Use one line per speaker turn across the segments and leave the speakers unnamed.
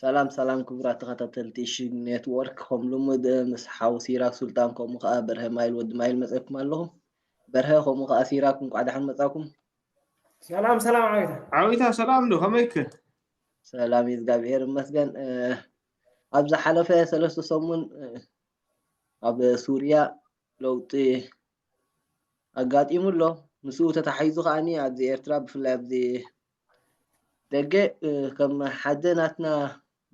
ሰላም ሰላም ክቡራት ተኸታተልቲ ሽግ ኔትወርክ ከም ልሙድ ምስ ሓው ሲራክ ሱልጣን ከምኡ ከዓ በርሀ ማይል ወዲ ማይል መፅኩም ኣለኹም በርሀ ከምኡ ከዓ ሲራክ እንኳዕ ደሓን መፃኩም ሰላም
ሰላም ዓዊታ ዓዊታ ሰላም ዶ
ከመይክ ሰላም
እዩ እግዚኣብሔር ይመስገን ኣብ ዝሓለፈ ሰለስተ ሰሙን ኣብ ሱርያ ለውጢ ኣጋጢሙ ኣሎ። ምስኡ ተታሒዙ ከኣ ኣብዚ ኤርትራ ብፍላይ ኣብዚ ደገ ከም ሓደ ናትና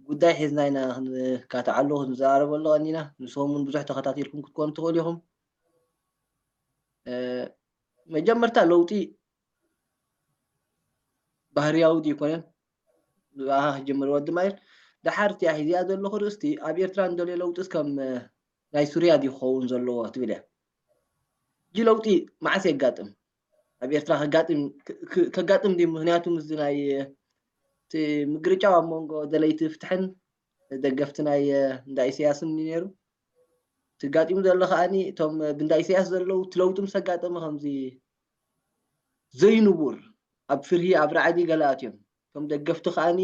ጉዳይ ሒዝና ኢና ክንካትዓሉ ክንዘራረበሉ ቀኒና። ንስኹም እውን ብዙሕ ተኸታቲልኩም ክትኮኑ ትኽእሉ ኢኹም። መጀመርታ ለውጢ ባህርያዊ ድዩ ኣይኮነን ብኣኻ ክጅምር ወዲ ማይል ደሓር እቲኣ ሒዚኣ ዘለኹ ርእስቲ ኣብ ኤርትራ እንደልዮ ለውጢስ ከም ናይ ሱርያ ድዩ ክኸውን ዘለዎ ትብል እያ። ሕጂ ለውጢ መዓስ የጋጥም? ኣብ ኤርትራ ከጋጥም ከጋጥም ድዩ? ምክንያቱ ምስዚ ናይ እቲ ምግርጫው ኣብ መንጎ ደለይቲ ፍትሕን ደገፍቲ ናይ እንዳ ኢሰያስን እዩ ነይሩ። እቲ ጋጢሙ ዘሎ ከኣኒ እቶም ብእንዳ ኢሰያስ ዘለዉ እቲ ለውጢ ምስ ኣጋጠመ ከምዚ ዘይንቡር ኣብ ፍርሂ ኣብ ራዕዲ ገለ ኣትዮም እቶም ደገፍቲ ከኣኒ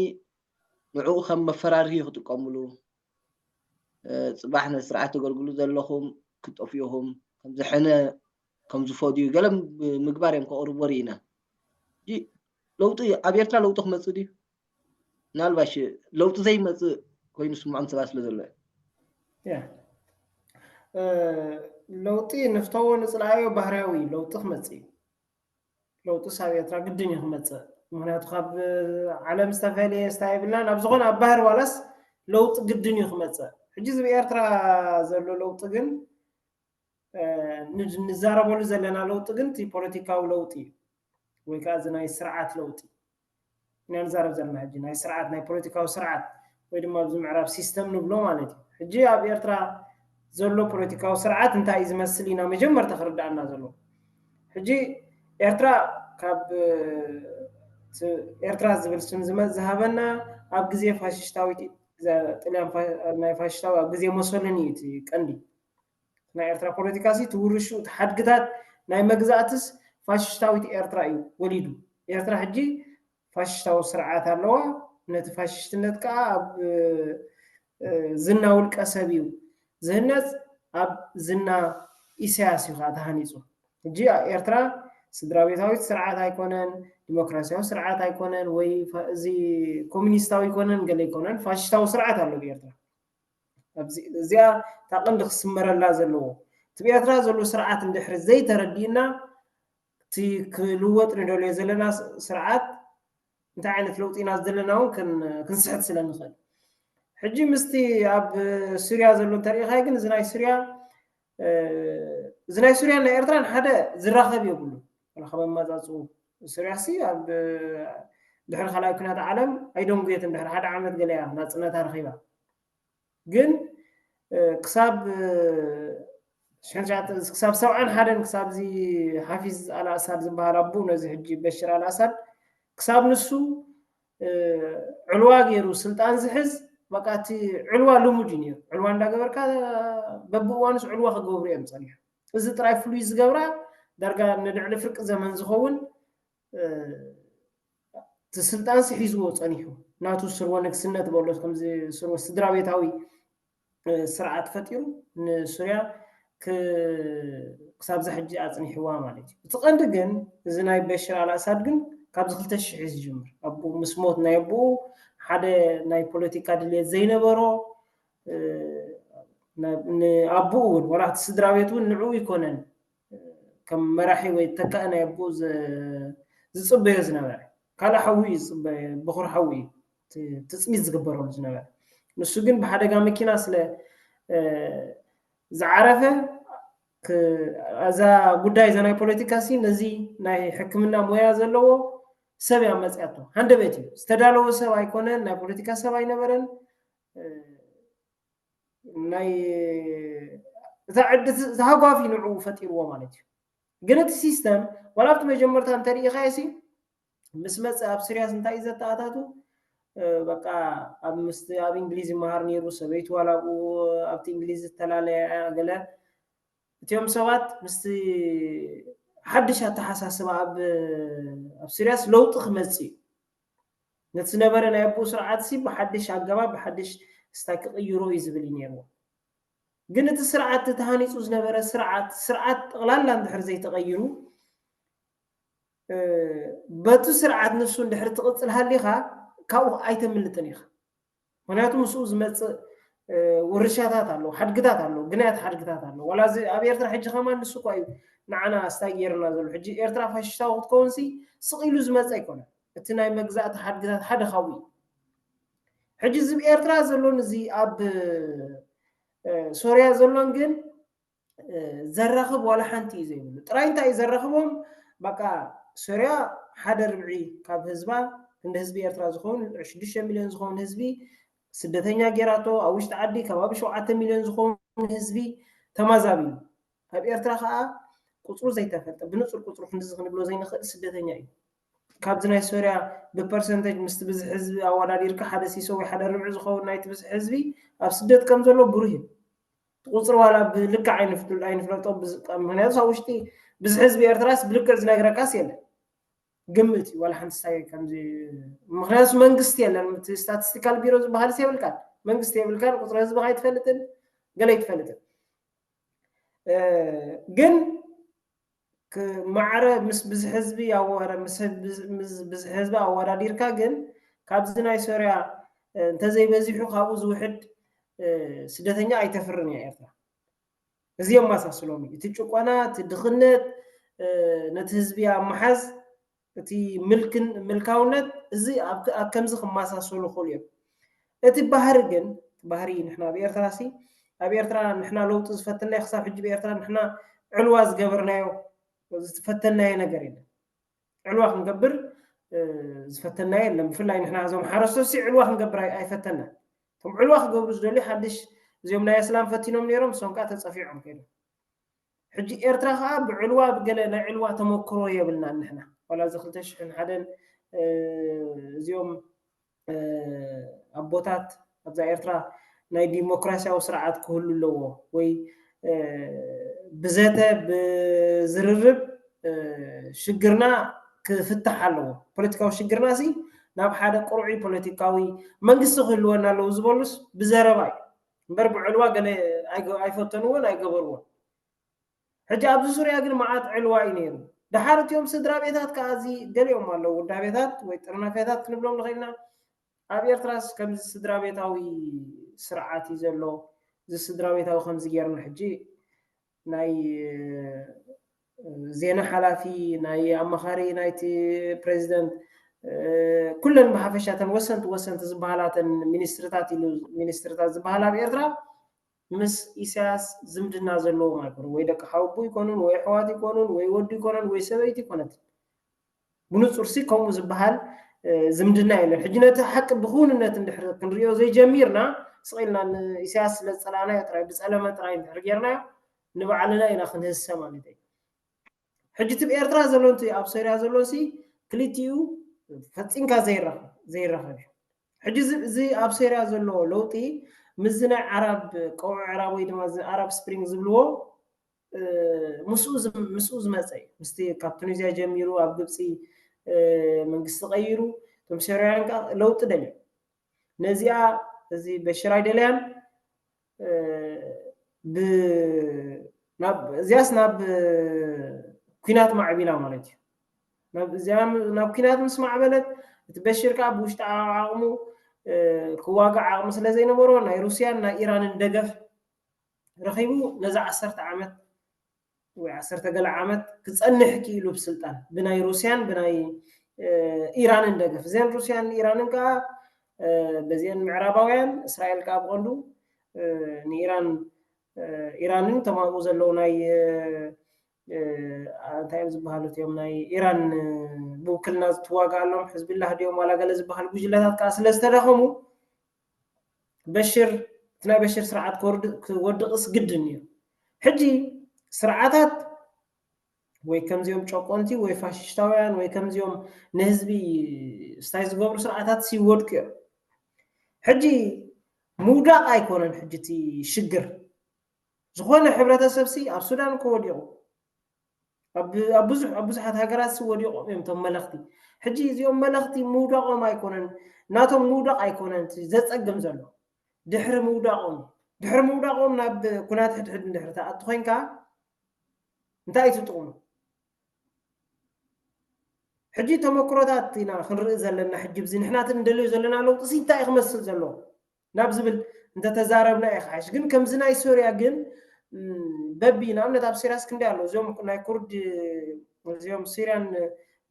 ንዕኡ ከም መፈራርሂ ክጥቀምሉ ጽባሕ ነቲ ስርዓት ተገልግሉ ዘለኹም ክትጠፍኡ ኢኹም፣ ከምዚ ሕነ ከምዚ ፈድዩ ገለ ምግባር እዮም ከቕርብዎ ርኢና። ሕጂ ለውጢ ኣብ ኤርትራ ለውጢ ክመጽእ ድዩ? ምናልባሽ ለውጢ ዘይመጽእ ኮይኑ ዝስምዖም ሰባት ስለ ዘሎ እዩ። ለውጢ ንፍተዎ
ንጽልኣዮ ባህርያዊ እዩ፣ ለውጢ ክመጽእ እዩ። ለውጥስ ኣብ ኤርትራ ግድን እዩ ክመፅእ ምክንያቱ ካብ ዓለም ዝተፈለየ ስታ የብልናን ኣብ ዝኾነ ኣብ ባህር ዋላስ ለውጢ ግድን እዩ ክመፅእ ሕጂ እዚ ብኤርትራ ዘሎ ለውጢ ግን ንዛረበሉ ዘለና ለውጢ ግን እቲ ፖለቲካዊ ለውጢ እዩ ወይ ከዓ እዚ ናይ ስርዓት ለውጢ ኢና ንዛረብ ዘለና ሕጂ ናይ ስርዓት ናይ ፖለቲካዊ ስርዓት ወይ ድማ ኣብዚ ምዕራብ ሲስተም ንብሎ ማለት እዩ ሕጂ ኣብ ኤርትራ ዘሎ ፖለቲካዊ ስርዓት እንታይ እዩ ዝመስል ኢና መጀመርታ ክርዳኣና ዘለዎ ሕጂ ኤርትራ ካብ ኤርትራ ዝብል ስም ዝመፅ ዝሃበና ኣብ ግዜ ፋሽሽታዊት ጥልያን ናይ ፋሽሽታዊ ኣብ ግዜ መሶልን እዩ እቲ ቀንዲ ናይ ኤርትራ ፖለቲካ ሲ ትውርሹ እቲ ሓድግታት ናይ መግዛእትስ ፋሽሽታዊት ኤርትራ እዩ ወሊዱ። ኤርትራ ሕጂ ፋሽሽታዊ ስርዓት ኣለዋ። ነቲ ፋሽሽትነት ከኣ ኣብ ዝና ውልቀ ሰብ እዩ ዝህነጽ። ኣብ ዝና ኢሳያስ እዩ ከኣ ተሃኒጹ። ሕጂ ኤርትራ ስድራቤታዊት ስርዓት ኣይኮነን፣ ዲሞክራሲያዊ ስርዓት ኣይኮነን ወይ እዚ ኮሚኒስታዊ ኣይኮነን ገለ ኣይኮነን ፋሽሽታዊ ስርዓት ኣሎ ኣብ ኤርትራ። እዚኣ እታ ቀንዲ ክስመረላ ዘለዎ እቲ ኣብ ኤርትራ ዘሎ ስርዓት እንድሕሪ ዘይተረዲእና እቲ ክልወጥ ንደልዮ ዘለና ስርዓት እንታይ ዓይነት ለውጢ ኢና ዘለና እውን ክንስሕት ስለ ንኽእል ሕጂ ምስቲ ኣብ ሱርያ ዘሎ እንተሪኢኻይ ግን እዚ ናይ ሱርያ እዚ ናይ ሱርያን ናይ ኤርትራን ሓደ ዝራኸብ የብሉ ካብ ኣመጻጽኡ ሱርያሲ ኣብ ድሕሪ ካልኣይ ኩናት ዓለም ኣይደንጉየትን ድሕሪ ሓደ ዓመት ገለ እያ ናፅነታ ረኺባ ግን ክሳብ ክሳብ ሰብዓን ሓደን ክሳብዚ ሓፊዝ ኣልኣሳድ ዝበሃል ኣቦ ነዚ ሕጂ በሽር ኣልኣሳድ ክሳብ ንሱ ዕልዋ ገይሩ ስልጣን ዝሕዝ በቃ እቲ ዕልዋ ልሙድ እዩ ነይሩ ዕልዋ እንዳገበርካ በብእዋኑስ ዕልዋ ክገብሩ እዮም ፀኒሑ እዚ ጥራይ ፍሉይ ዝገብራ ዳርጋ ንልዕሊ ፍርቂ ዘመን ዝኸውን እቲ ስልጣንሲ ሒዝዎ ፀኒሑ ናቱ ስርወ ንግስነት በሎ ከምዚ ስርወ ስድራ ቤታዊ ስርዓት ፈጢሩ ንሱርያ ክሳብ እዛ ሕጂ ኣጽኒሕዋ ማለት እዩ። እቲ ቀንዲ ግን እዚ ናይ በሽር ኣልኣሳድ ግን ካብዚ ክልተ ሽሕ እዩ ዝጅምር ኣቡኡ ምስ ሞት ናይ ኣቡኡ ሓደ ናይ ፖለቲካ ድልየት ዘይነበሮ ንኣቡኡ እውን ወላ እቲ ስድራ ቤት እውን ንዕኡ ኣይኮነን ከም መራሒ ወይ ተካኢ ናይ ኣቡኡ ዝጽበዮ ዝነበረ ካልእ ሓዊ እዩ ዝጽበ በኹሪ ሓዊ እዩ ትፅቢት ዝግበረሉ ዝነበረ ንሱ ግን ብሓደጋ መኪና ስለ ዝዓረፈ እዛ ጉዳይ እዛ ናይ ፖለቲካ ሲ ነዚ ናይ ሕክምና ሞያ ዘለዎ ሰብ እያ መፅያቶ ሃንደበት እዩ ዝተዳለወ ሰብ ኣይኮነን ናይ ፖለቲካ ሰብ ኣይነበረን ናይ እታ ዕዲ ተሃጓፊ ንዕኡ ፈጢርዎ ማለት እዩ ግን እቲ ሲስተም ዋላ ኣብቲ መጀመርታ እንተሪኢኻዮ ሲ ምስ መጸ ኣብ ስርያስ እንታይ እዩ ዘተኣታቱ በቃ ኣብ ምስቲ ኣብ እንግሊዝ ይመሃር ነይሩ ሰበይቱ ዋላ ኣብኡ ኣብቲ እንግሊዝ ዝተላለያ እያ ገለ እቲኦም ሰባት ምስቲ ሓድሽ ኣተሓሳስባ ኣብ ኣብ ስርያስ ለውጢ ክመጽእ እዩ ነቲ ዝነበረ ናይ ኣቦኡ ስርዓት ሲ ብሓድሽ ኣገባብ ብሓድሽ ስታይ ክቕይሮ እዩ ዝብል እዩ ነይርዎ ግን እቲ ስርዓት ተሃኒፁ ዝነበረ ስርዓት ስርዓት ጠቕላላ እንድሕር ዘይተቐይሩ በቱ ስርዓት ንሱ እንድሕሪ ትቕፅል ሃሊኻ ካብኡ ኣይተምልጥን ኢኻ ምክንያቱ ምስኡ ዝመፅእ ውርሻታት ኣለዎ ሓድግታት ኣለዎ ግናያት ሓድግታት ኣለዎ ዋላ እዚ ኣብ ኤርትራ ሕጂ ከማን ንሱ እኳ እዩ ንዓና ስታይ ገይርና ዘሎ ሕጂ ኤርትራ ፋሽስታዊ ክትከውን ሲ ስቕ ኢሉ ዝመፀ ኣይኮነ እቲ ናይ መግዛእቲ ሓድግታት ሓደ ካብኡ እዩ ሕጂ እዚ ኤርትራ ዘሎን እዚ ኣብ ሶርያ ዘሎን ግን ዘራኽብ ዋላ ሓንቲ እዩ ዘይብሉ ጥራይ እንታይ እዩ ዘራኽቦም በቃ ሶርያ ሓደ ርብዒ ካብ ህዝባ ክንዲ ህዝቢ ኤርትራ ዝኸውን ልዕሊ ሽዱሽተ ሚልዮን ዝኸውን ህዝቢ ስደተኛ ጌራቶ ኣብ ውሽጢ ዓዲ ከባቢ ሸውዓተ ሚልዮን ዝኸውን ህዝቢ ተማዛቢ እዩ ኣብ ኤርትራ ከዓ ቁፅሩ ዘይተፈልጠ ብንፁር ቁፅሩ ክንዲዚ ክንብሎ ዘይንኽእል ስደተኛ እዩ ካብዚ ናይ ሶርያ ብፐርሰንተጅ ምስቲ ብዝሒ ህዝቢ ኣወዳዲርካ ሓደ ሲሶ ወይ ሓደ ርብዒ ዝኸውን ናይቲ ብዝሒ ህዝቢ ኣብ ስደት ከም ዘሎ ብሩህ እዩ እቲ ቁፅሪ ዋላ ብልክዕ ኣይንፍለጦ ምክንያቱስ ኣብ ውሽጢ ብዝሒ ህዝቢ ኤርትራስ ብልክዕ ዝነግረካስ የለን ግምት እዩ ዋላ ሓንቲ ሳይ ከምዚ ምክንያቱስ መንግስቲ የለን እቲ ስታቲስቲካል ቢሮ ዝበሃልስ የብልካን መንግስቲ የብልካን ቁፅሪ ህዝብካ ኣይትፈልጥን ገለ ኣይትፈልጥን ግን ማዕረ ምስ ብዝሒ ህዝቢ ኣወረ ምስ ብዝሒ ህዝቢ ኣወዳዲርካ ግን ካብዚ ናይ ሶርያ እንተዘይበዚሑ ካብኡ ዝውሕድ ስደተኛ ኣይተፍርን እያ ኤርትራ እዚ የመሳስሎም እዩ እቲ ጭቆና እቲ ድኽነት ነቲ ህዝቢ ኣብ ምሓዝ እቲ ምልክን ምልካውነት እዚ ኣብ ኣብ ከምዚ ክመሳሰሉ ይኽእሉ እዮም። እቲ ባህሪ ግን እቲ ባህሪ ንሕና ኣብ ኤርትራሲ ኣብ ኤርትራ ንሕና ለውጢ ዝፈትናዮ ክሳብ ሕጂ ብኤርትራ ንሕና ዕልዋ ዝገበርናዮ ዝፈተናዮ ነገር የለን። ዕልዋ ክንገብር ዝፈተናዮ የለን። ብፍላይ ንሕና እዞም ሓረስቶትሲ ዕልዋ ክንገብር ኣይ- ኣይፈተናን። እቶም ዕልዋ ክገብሩ ዝደልዩ ሓድሽ እዚኦም ናይ ኣስላም ፈቲኖም ነይሮም እሶም ከኣ ተጸፊዖም ከይዶም። ሕጂ ኤርትራ ከኣ ብዕልዋ ብገለ ናይ ዕልዋ ተመክሮ የብልናን ንሕና ዋላ እዚ ክልተ ሽሕን ሓደን እዚኦም ኣቦታት ኣብዛ ኤርትራ ናይ ዲሞክራሲያዊ ስርዓት ክህሉ ኣለዎ ወይ ብዘተ ብዝርርብ ሽግርና ክፍታሕ ኣለዎ ፖለቲካዊ ሽግርና ሲ ናብ ሓደ ቅርዑይ ፖለቲካዊ መንግስቲ ክህልወና ኣለዎ ዝበሉስ ብዘረባ እዩ እምበር ብዕልዋ ገለ ኣይፈተንዎን ኣይገበርዎን። ሕጂ ኣብዚ ዙርያ ግን መዓት ዕልዋ እዩ ነይሩ። ደሓር እቲኦም ስድራቤታት ከኣ እዚ ገሊኦም ኣለዉ ውዳቤታት ወይ ጥርናፌታት ክንብሎም ንኽእል ኢና። ኣብ ኤርትራስ ከምዚ ስድራቤታዊ ስርዓት እዩ ዘሎ፣ እዚ ስድራቤታዊ ከምዚ ጌርና ሕጂ ናይ ዜና ሓላፊ፣ ናይ ኣማኻሪ ናይቲ ፕረዚደንት፣ ኩለን ብሓፈሻ እተን ወሰንቲ ወሰንቲ ዝበሃላ እተን ሚኒስትሪታት ኢሉ ሚኒስትሪታት ዝበሃላ ኣብ ኤርትራ ምስ ኢሳያስ ዝምድና ዘለዎም ኣይኮኑን። ወይ ደቂ ሓወቦ ኣይኮኑን ወይ ኣሕዋት ኣይኮኑን ወይ ወዱ ኣይኮነን ወይ ሰበይቲ ኣይኮነትን። ብንጹርሲ ከምኡ ዝበሃል ዝምድና የለን ሕጂ ነቲ ሓቂ ብክውንነት እንድሕር ክንሪኦ ዘይጀሚርና ስቕ ኢልና ንኢሳያስ ስለ ዝጸላእናዮ ጥራይ ብጸለመ ጥራይ እንድሕር ጌርናዮ ንባዕልና ኢና ክንህሰ ማለት እዩ ሕጂ እቲ ኤርትራ ዘሎን እቲ ኣብ ሶርያ ዘሎን ሲ ክልቲኡ ፈጺምካ ዘይራኸብ እዩ ሕጂ እዚ ኣብ ሶርያ ዘሎ ለውጢ ምስዚ ናይ ዓራብ ቀውዒ ዕራብ ወይ ድማ እዚ ዓራብ ስፕሪንግ ዝብልዎ ምስኡ ምስኡ ዝመጸ እዩ ምስቲ ካብ ቱኒዝያ ጀሚሩ ኣብ ግብጺ መንግስቲ ቀይሩ እቶም ሶርያውያን ከዓ ለውጢ ደልዮም ነዚኣ እዚ በሽር ኣይደለያን እዚያስ ናብ ኩናት ማዕቢላ ማለት እዩ ናብ እዚኣ ናብ ኩናት ምስ ማዕበለት እቲ በሽር ከዓ ብውሽጢ ዓቕሙ ክዋጋእ ዓቕሚ ስለ ዘይነበሮ ናይ ሩስያን ናይ ኢራንን ደገፍ ረኺቡ ነዚ ዓሰርተ ዓመት ወይ ዓሰርተ ገለ ዓመት ክጸንሕ ክኢሉ ብ ስልጣን ብናይ ሩስያን ብናይ ኢራንን ደገፍ እዘን ሩስያን ኢራንን ከኣ በዚኤን ምዕራባውያን እስራኤል ከኣ ብቐንዱ ንኢራን ኢራንን እቶም ኣብኡ ዘለዉ ናይ እንታይ እዮም ዝበሃሉ እትዮም ናይ ኢራን ብውክልና ዝትዋግኣሎም ሕዝቢላህ ድዮም ዋላ ገለ ዝበሃል ጉጅለታት ከዓ ስለ ዝተዳኸሙ በሽር እቲ ናይ በሽር ስርዓት ክወድቕስ ግድን እዩ። ሕጂ ስርዓታት ወይ ከምዚኦም ጨቆንቲ ወይ ፋሽሽታውያን ወይ ከምዚኦም ንህዝቢ ስታይ ዝገብሩ ስርዓታትስ ይወድቁ እዮም። ሕጂ ምውዳቕ ኣይኮነን ሕጂ እቲ ሽግር ዝኾነ ሕብረተሰብሲ ኣብ ሱዳን እኮ ወዲቑ ኣብ ብዙሕ ኣብ ብዙሓት ሃገራትሲ ወዲቖም እዮም እቶም መለኽቲ። ሕጂ እዚኦም መለኽቲ ምውዳቖም ኣይኮነን ናቶም ምውዳቕ ኣይኮነን እቲ ዘጸግም ዘሎ ድሕሪ ምውዳቖም እዩ። ድሕሪ ምውዳቖም ናብ ኩናት ሕድሕድ እንድሕሪ ትኣቱ ኮንካ እንታይ እዩ ጥቕሙ? ሕጂ ተመክሮታት ኢና ክንርኢ ዘለና ሕጂ ብዚ ንሕና እቲ ንደልዮ ዘለና ለውጢሲ እንታይ እዩ ክመስል ዘለዎ? ናብ ዝብል እንተተዛረብና ይኸሓሽ ግን ከምዚ ናይ ሶርያ ግን በቢ ንኣብነት ኣብ ሲርያስ ክንደይ ኣሎ እዚኦም ናይ ኩርድ እዚኦም ሲርያን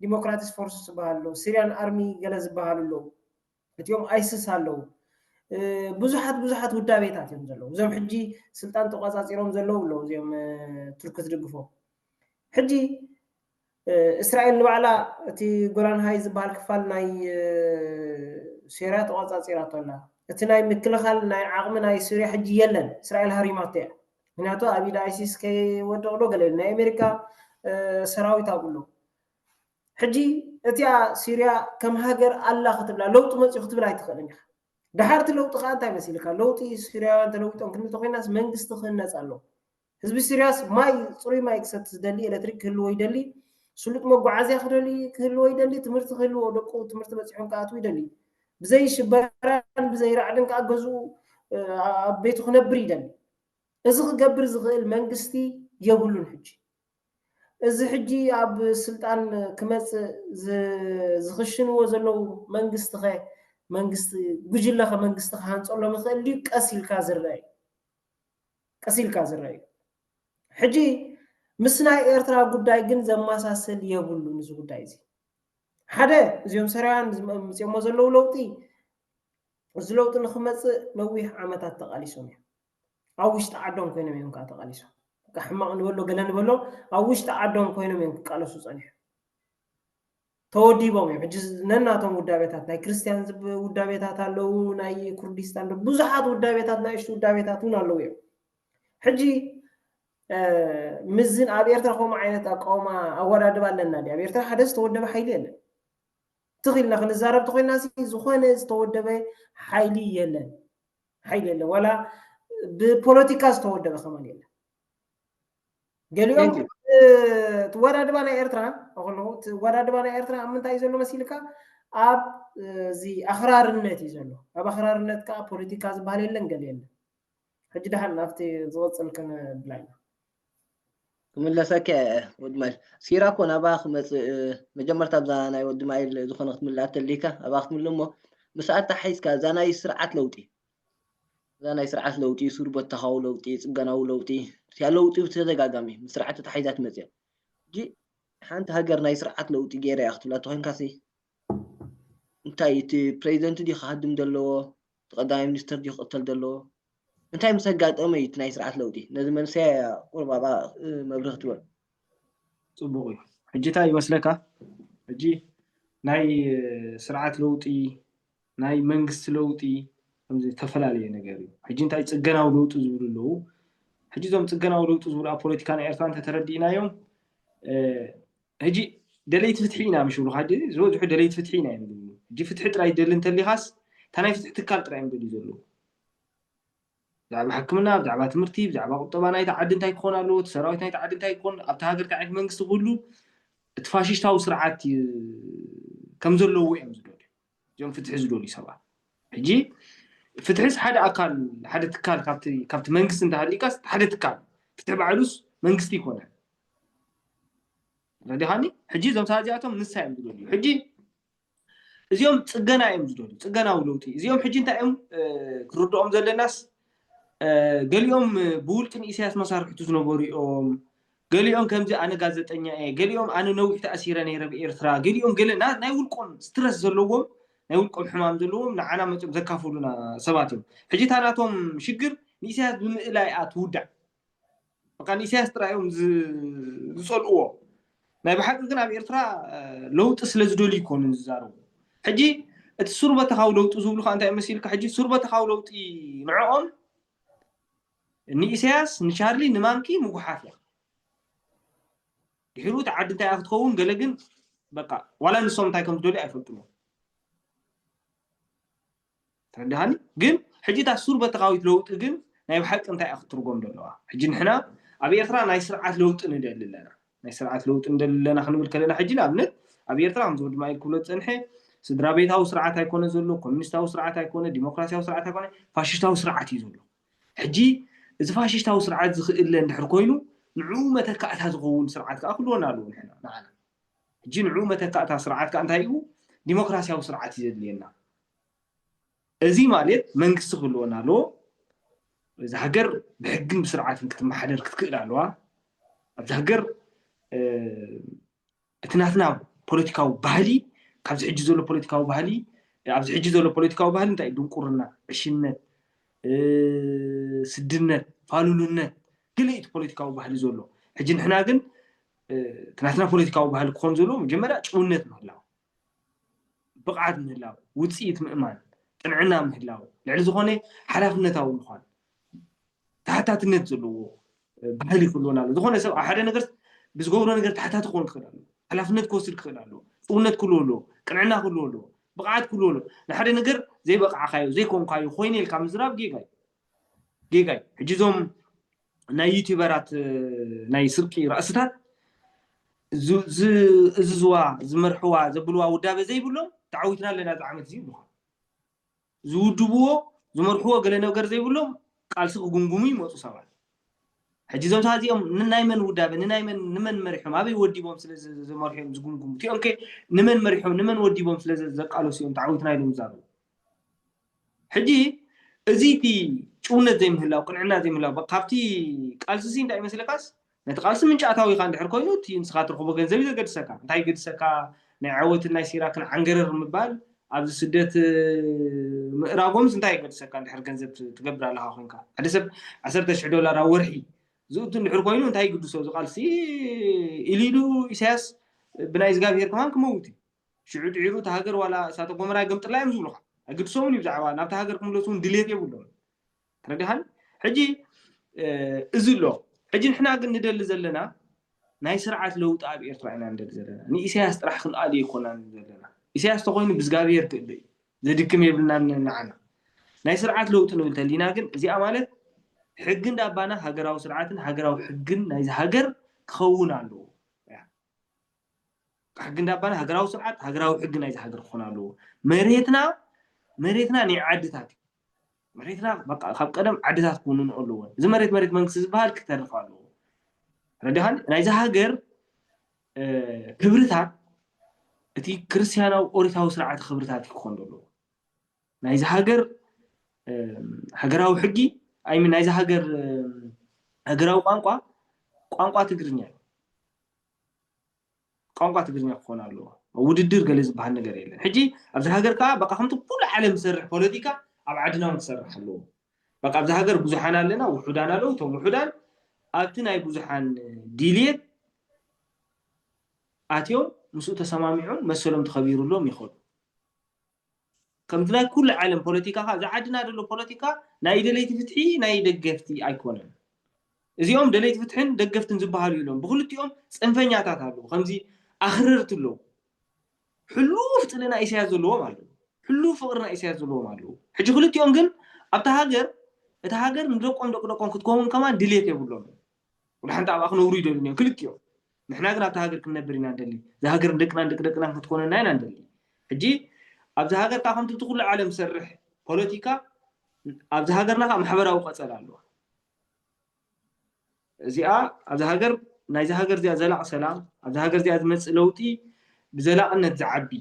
ዲሞክራቲስ ፎርስ ዝበሃል ኣሎ ሲርያን ኣርሚ ገለ ዝበሃሉ ኣለዉ እቲኦም ኣይስስ ኣለዉ ብዙሓት ብዙሓት ውዳቤታት እዮም ዘለዉ እዞም ሕጂ ስልጣን ተቋፃፂሮም ዘለዉ ኣለዉ እዚኦም ቱርኪ ዝድግፎ ሕጂ እስራኤል ንባዕላ እቲ ጎላን ሃይ ዝበሃል ክፋል ናይ ሴርያ ተቖጻጺራቶ ኣላ። እቲ ናይ ምክልኻል ናይ ዓቕሚ ናይ ሱርያ ሕጂ የለን እስራኤል ሃሪማቶ እያ ምክንያቱ ኣብ ኢድ ኣይሲስ ከይወድቕ ዶ ገለ ኢሉ ናይ ኣሜሪካ ሰራዊት ኣብኡ ኣሎ ሕጂ እቲኣ ሱርያ ከም ሃገር ኣላ ክትብላ ለውጢ መጽኡ ክትብል ኣይትኽእልን ኢኻ ድሓርቲ ለውጢ ከኣ እንታይ መሲልካ ለውጢ ሱርያውያን ተለዊጦም ክንብል ተኮይናስ መንግስቲ ክህነጽ ኣለዎ ህዝቢ ሲርያስ ማይ ጽሩይ ማይ ክሰቲ ዝደሊ፣ ኤለትሪክ ክህልዎ ይደሊ፣ ስሉጥ መጓዓዝያ ክደሊ ክህልዎ ይደሊ፣ ትምህርቲ ክህልዎ ደቁ ትምህርቲ በጺሖም ክኣትዉ ይደሊ። ብዘይ ሽበራን ብዘይ ራዕድን ከኣ ገዝኡ ኣብ ቤቱ ክነብር ይደሊ። እዚ ክገብር ዝኽእል መንግስቲ የብሉን ሕጂ። እዚ ሕጂ ኣብ ስልጣን ክመጽእ ዝኽሽንዎ ዘለዉ መንግስቲኸ መንግስቲ ጉጅለኸ መንግስቲ ክሃንጸሎም ይኽእል ድዩ ቀስ ኢልካ ዝረኣ እዩ። ቀስ ኢልካ ዝረኣ እዩ። ሕጂ ምስ ናይ ኤርትራ ጉዳይ ግን ዘመሳስል የብሉን እዚ ጉዳይ እዚ። ሓደ እዚኦም ሰራውያን ዝም ኣምጺኦሞ ዘለዉ ለውጢ እዚ ለውጢ ንኽመጽእ ነዊሕ ዓመታት ተቓሊሶም እዮም። ኣብ ውሽጢ ዓዶም ኮይኖም እዮም ከኣ ተቓሊሶም። በቃ ሕማቕ ንበሎ ገለ ንበሎ ኣብ ውሽጢ ዓዶም ኮይኖም እዮም ክቃለሱ ጸኒሖም። ተወዲቦም እዮም ሕጂ ነናቶም ውዳቤታት ናይ ክርስትያን ውዳቤታት ኣለዉ ናይ ኩርዲስታን ብዙሓት ውዳቤታት ናይሽቱ ውዳቤታት እውን ኣለዉ እዮም ሕጂ ምስዝን ኣብ ኤርትራ ከምኡ ዓይነት ኣቃውማ ኣወዳድባ ኣለና ዲ ኣብ ኤርትራ ሓደ ዝተወደበ ሓይሊ የለን ትኽ ኢልና ክንዛረብ ተኮይና ዝኾነ ዝተወደበ ሓይሊ የለን ሓይሊ የለን ዋላ ብፖለቲካ ዝተወደበ ከማን የለን ገሊኦም Thank you. እቲ ወዳድባ ናይ ኤርትራ እኽሎ እቲ ወዳድባ ናይ ኤርትራ ኣብ ምንታይ እዩ ዘሎ መሲልካ ኣብ እ፣ እዚ ኣኽራርነት እዩ ዘሎ ኣብ ኣኽራርነት ከዓ ፖለቲካ ዝበሃል የለን ገለ የለን ሕጂ ድሓን ናብቲ ዝቕፅል ክንብላ ኢና
ክምለሰከ ወዲ ማይል ሲራ እኮ ናብኣ ክመፅእ እ፣ መጀመርታ ኣብዛ ናይ ወዲ ማይል ዝኾነ ክትምልኣ ተልይካ ኣብኣ ክትምልእ እሞ ምስኣ ተሓሒዝካ እዛ ናይ ስርዓት ለውጢ እዛ ናይ ስርዓት ለውጢ፣ ሱር-በተኻዊ ለውጢ፣ ጽገናዊ ለውጢ፣ እቲኣ ለውጢ ብተደጋጋሚ ምስ ስርዓት ተታሓሒዛ ትመጽእያ። ሕጂ ሓንቲ ሃገር ናይ ስርዓት ለውጢ ገይረያ ክትብላ እንተኾይንካሲ፣ እንታይ እቲ ፕረዚደንት ድዩ ክሃድም ዘለዎ፣ እቲ ቀዳማይ ሚኒስተር ድዩ ክቕተል ዘለዎ፣ እንታይ ምስ ኣጋጠመ እዩ እቲ ናይ ስርዓት ለውጢ፣ ነዚ መንሰያ እያ ቁሩብ ኣብኣ መብርሂ ክትበሉ።
ጽቡቕ እዩ። ሕጂ እንታይ ይመስለካ፣ ሕጂ ናይ ስርዓት ለውጢ ናይ መንግስቲ ለውጢ ከምዚ ዝተፈላለየ ነገር እዩ። ሕጂ እንታይ ጽገናዊ ለውጢ ዝብሉ ኣለዉ። ሕጂ እዞም ጽገናዊ ለውጢ ዝብሉ ኣብ ፖለቲካ ናይ ኤርትራ እንተተረዲእናዮም ሕጂ ደለይቲ ፍትሒ ኢና ምሽ ብሉካ ሕጂ ዝበዝሑ ደለይቲ ፍትሒ ኢና እዮም ዝብሉ። ሕጂ ፍትሒ ጥራይ ደሊ እንተሊኻስ እታ ናይ ፍትሒ ትካል ጥራይ እዮም ደልዩ ዘለዉ። ብዛዕባ ሕክምና ብዛዕባ ትምህርቲ ብዛዕባ ቁጠባ ናይቲ ዓዲ እንታይ ክኾን ኣለዎ እቲ ሰራዊት ናይቲ ዓዲ እንታይ ክኾን ኣብቲ ሃገር እንታይ ዓይነት መንግስቲ ክህሉ እቲ ፋሽሽታዊ ስርዓት ከም ዘለዎ እዮም ዝደልዩ እዞም ፍትሒ ዝደልዩ ሰባት ሕጂ ፍትሒስ ሓደ ኣካል ሓደ ትካል ካብቲ መንግስቲ እንተሃሊዩካስ ሓደ ትካል ፍትሒ ባዕሉስ መንግስቲ ይኮነ ረዲኻኒ ሕጂ እዞም ሰባት እዚኣቶም ንሳ እዮም ዝደልዩ ሕጂ እዚኦም ፅገና እዮም ዝደልዩ ፅገናዊ ለውጢ እዚኦም ሕጂ እንታይ እዮም ክርድኦም ዘለናስ ገሊኦም ብውልቂ ንኢሳያስ መሳርሕቱ ዝነበሩ እዮም ገሊኦም ከምዚ ኣነ ጋዘጠኛ እየ ገሊኦም ኣነ ነዊሕ ተኣሲረ ነይረ ኣብ ኤርትራ ገሊኦም ገለ ናይ ውልቆም ስትረስ ዘለዎም ናይ ውልቆም ሕማም ዘለዎም ንዓና መጽኦም ዘካፍሉና ሰባት እዮም ሕጂ እታ ናቶም ሽግር ንኢሳያስ ብምእላይ እያ ትውዳእ በቃ ንኢሳያስ ጥራይ እዮም ዝጸልእዎ ናይ ብሓቂ ግን ኣብ ኤርትራ ለውጢ ስለ ዝደልዩ ይኮኑ ዝዛረቡ ሕጂ እቲ ሱርበተኻዊ ለውጢ ዝብሉ ከዓ እንታይ መሲልካ ሕጂ ሱርበተኻዊ ለውጢ ንዕኦም ንኢሰያስ ንቻርሊ ንማንኪ ምጉሓፍ እያ ድሒሩ እቲ ዓዲ እንታይ እያ ክትከውን ገለ ግን በቃ ዋላ ንሶም እንታይ ከም ዝደልዩ ኣይፈልጡን እዮም ተረዳሃኒ ግን ሕጂ እታ ሱር በተኻዊት ለውጢ ግን ናይ ብሓቂ እንታይ እያ ክትርጎም ዘለዋ ሕጂ ንሕና ኣብ ኤርትራ ናይ ስርዓት ለውጢ ንደሊ ኣለና ናይ ስርዓት ለውጢ ንደሊ ኣለና ክንብል ከለና ሕጂ ንኣብነት ኣብ ኤርትራ ከምዚ ድማ ኢል ክብሎ ዝፀንሐ ስድራ ቤታዊ ስርዓት ኣይኮነ ዘሎ ኮሚኒስታዊ ስርዓት ኣይኮነ ዲሞክራሲያዊ ስርዓት ኣይኮነ ፋሽስታዊ ስርዓት እዩ ዘሎ ሕጂ እዚ ፋሽሽታዊ ስርዓት ዝኽእለ እንድሕር ኮይኑ ንዕኡ መተካእታ ዝኸውን ስርዓት ከኣ ክህልወና ኣለዎ ንሕና ንዓና ሕጂ ንዕኡ መተካእታ ስርዓት ከኣ እንታይ እዩ ዲሞክራሲያዊ ስርዓት እዩ ዘድልየና እዚ ማለት መንግስቲ ክህልወና ኣለዎ እዚ ሃገር ብሕግን ብስርዓትን ክትመሓደር ክትክእል ኣለዋ ኣብዚ ሃገር እቲ ናትና ፖለቲካዊ ባህሊ ካብዚ ሕጂ ዘሎ ፖለቲካዊ ባህሊ ኣብዚ ሕጂ ዘሎ ፖለቲካዊ ባህሊ እንታይ እዩ ድንቁርና ዕሽነት ስድነት ፋሉልነት ገለ እቲ ፖለቲካዊ ባህሊ ዘሎ ሕጂ ንሕና ግን እቲ ናትና ፖለቲካዊ ባህሊ ክኾን ዘለዎ መጀመርያ ጭውነት ምህላው ብቕዓት ምህላው ውፅኢት ምእማን ጥንዕና ምህላው ልዕሊ ዝኾነ ሓላፍነታዊ ምዃን ተሓታትነት ዘለዎ ባህሊ ክህልወና ኣለዎ። ዝኾነ ሰብ ኣብ ሓደ ነገር ብዝገብሮ ነገር ተሓታቲ ክኾን ክኽእል ኣለዎ። ሓላፍነት ክወስድ ክኽእል ኣለዎ። ጭውነት ክህልዎ ኣለዎ። ቅንዕና ክህልዎ ኣለዎ። ብቕዓት ክህልዎ ኣለዎ። ንሓደ ነገር ዘይበቓዕካዮ ዘይኮንካዮ ኮይነ ኢልካ ምዝራብ ጌጋ እዩ። ጌጋ እዩ። ሕጂ እዞም ናይ ዩቲበራት ናይ ስርቂ ራእስታት ዝእዝዝዋ ዝመርሕዋ ዘብልዋ ውዳበ ዘይብሎም ተዓዊትና ኣለና እዚ ዓመት እዚ ይብሉኻ። ዝውድብዎ ዝመርሕዎ ገለ ነገር ዘይብሎም ቃልሲ ክጉምጉሙ ይመጹ ሰባት ሕጂ እዞም ሰባት እዚኦም ንናይ መን ውዳበ ንናይ መን ንመን መሪሖም ኣበይ ወዲቦም ስለ ዘመርሑ እዮም ዝጉምጉሙ እቲኦም ከ ንመን መሪሖም ንመን ወዲቦም ስለ ዘቃለሱ እዮም ተዓዊትና ኢሎም ዝዛረቡ ሕጂ እዚ እቲ ጭውነት ዘይምህላው ቅንዕና ዘይምህላው ካብቲ ቃልሲሲ እንታይ ይመስለካስ ነቲ ቃልሲ ምንጫታዊኻ እንድሕር ኮይኑ እቲ ንስኻ ትረኽቦ ገንዘብ እዩ ዘገድሰካ። እንታይ ይገድሰካ ናይ ዓወትን ናይ ሲራክን ዓንገረር ምባል ኣብዚ ስደት ምእራጎምስ እንታይ ይገድሰካ እንድሕር ገንዘብ ትገብር ኣለኻ ኮንካ። ሓደ ሰብ ዓሰርተ ሽሕ ዶላር ኣብ ወርሒ ዝእቱ እንድሕር ኮይኑ እንታይ ይግድሶ እዚ ቃልሲ ኢሉ ኢሉ ኢሳያስ ብናይ እዝጋብሄር ከማን ክመውት እዩ። ሽዑ ድሒሩ እታ ሃገር ዋላ እሳተ ጎመራ ይገምጥላ እዮም ዝብሉኻ። ኣይግድሶምን እዩ ብዛዕባ ናብታ ሃገር ክምለሱ እውን ድሌት የብሎምን። ተረዲኻኒ ሕጂ እዚ ኣሎ ሕጂ ንሕና ግን ንደሊ ዘለና ናይ ስርዓት ለውጢ ኣብ ኤርትራ ኢና ንደሊ ዘለና ንኢሳያስ ጥራሕ ክንኣሉ ይኮና ዘለና ኢሳያስ ተኮይኑ ብዝጋብሄር ክእለ እዩ ዘድክም የብልና ንዓና ናይ ስርዓት ለውጢ ንብል ተሊና ግን እዚኣ ማለት ሕጊ እንዳባና ሃገራዊ ስርዓትን ሃገራዊ ሕግን ናይዚ ሃገር ክኸውን ኣለዎ ሕጊ እንዳባና ሃገራዊ ስርዓት ሃገራዊ ሕጊ ናይዚ ሃገር ክኾን ኣለዎ መሬትና መሬትና ናይ ዓድታት እዩ መሬትና በቃ ካብ ቀደም ዓድታት ክውንኑ ኣለወን። እዚ መሬት መሬት መንግስቲ ዝበሃል ክተርፍ ኣለዎ። ረዲኻኒ ናይዛ ሃገር ክብርታት እቲ ክርስትያናዊ ኦሪታዊ ስርዓተ ክብርታት እዩ ክኾን ዘለዎ። ናይዚ ሃገር ሃገራዊ ሕጊ ኣይ ሚን ናይዚ ሃገር ሃገራዊ ቋንቋ ቋንቋ ትግርኛ እዩ። ቋንቋ ትግርኛ ክኾን ኣለዎ። ውድድር ገለ ዝብሃል ነገር የለን። ሕጂ ኣብዚ ሃገር ከኣ በቃ ከምቲ ኩሉ ዓለም ዝሰርሕ ፖለቲካ ኣብ ዓድና ውን ክሰርሕ ኣለዎ። በቃ ኣብዚ ሃገር ብዙሓን ኣለና ውሑዳን ኣለዉ እቶም ውሑዳን ኣብቲ ናይ ብዙሓን ዲልየት ኣትዮም ምስኡ ተሰማሚዖም መሰሎም ተኸቢሩሎም ይኸዱ። ከምቲ ናይ ኩሉ ዓለም ፖለቲካ ከኣ እዛ ዓድና ዘሎ ፖለቲካ ናይ ደለይቲ ፍትሒ ናይ ደገፍቲ ኣይኮነን። እዚኦም ደለይቲ ፍትሕን ደገፍትን ዝበሃሉ የልቦን። ብኽልቲኦም ጽንፈኛታት ኣለዉ። ከምዚ ኣኽረርቲ ኣለዉ። ሕሉፍ ጽልኢ ናይ ኢሳያስ ዘለዎም ኣለዉ። ሕሉፍ ፍቕሪ ናይ ኢሳያስ ዘለዎም ኣለዉ። ሕጂ ክልቲኦም ግን ኣብታ ሃገር እታ ሃገር ንደቆም ደቂ ደቆም ክትከውን ከማን ድሌት የብሎምን። ወላ ሓንቲ ኣብኣ ክነብሩ ይደልዩን እዮም ክልቲኦም ንሕና ግን ኣብታ ሃገር ክንነብር ኢና ንደሊ እዛ ሃገር ንደቅናን ደቂ ደቅናን ክትኮነና ኢና ንደሊ ሕጂ ኣብዚ ሃገር ከዓ ከምቲ እቲ ኩሉ ዓለም ዝሰርሕ ፖለቲካ ኣብዚ ሃገርና ከዓ ማሕበራዊ ቀፀል ኣለዋ እዚኣ ኣብዚ ሃገር ናይዚ ሃገር እዚኣ ዘላቕ ሰላም ኣብዚ ሃገር እዚኣ ዝመፅእ ለውጢ ብዘላቕነት ዝዓቢ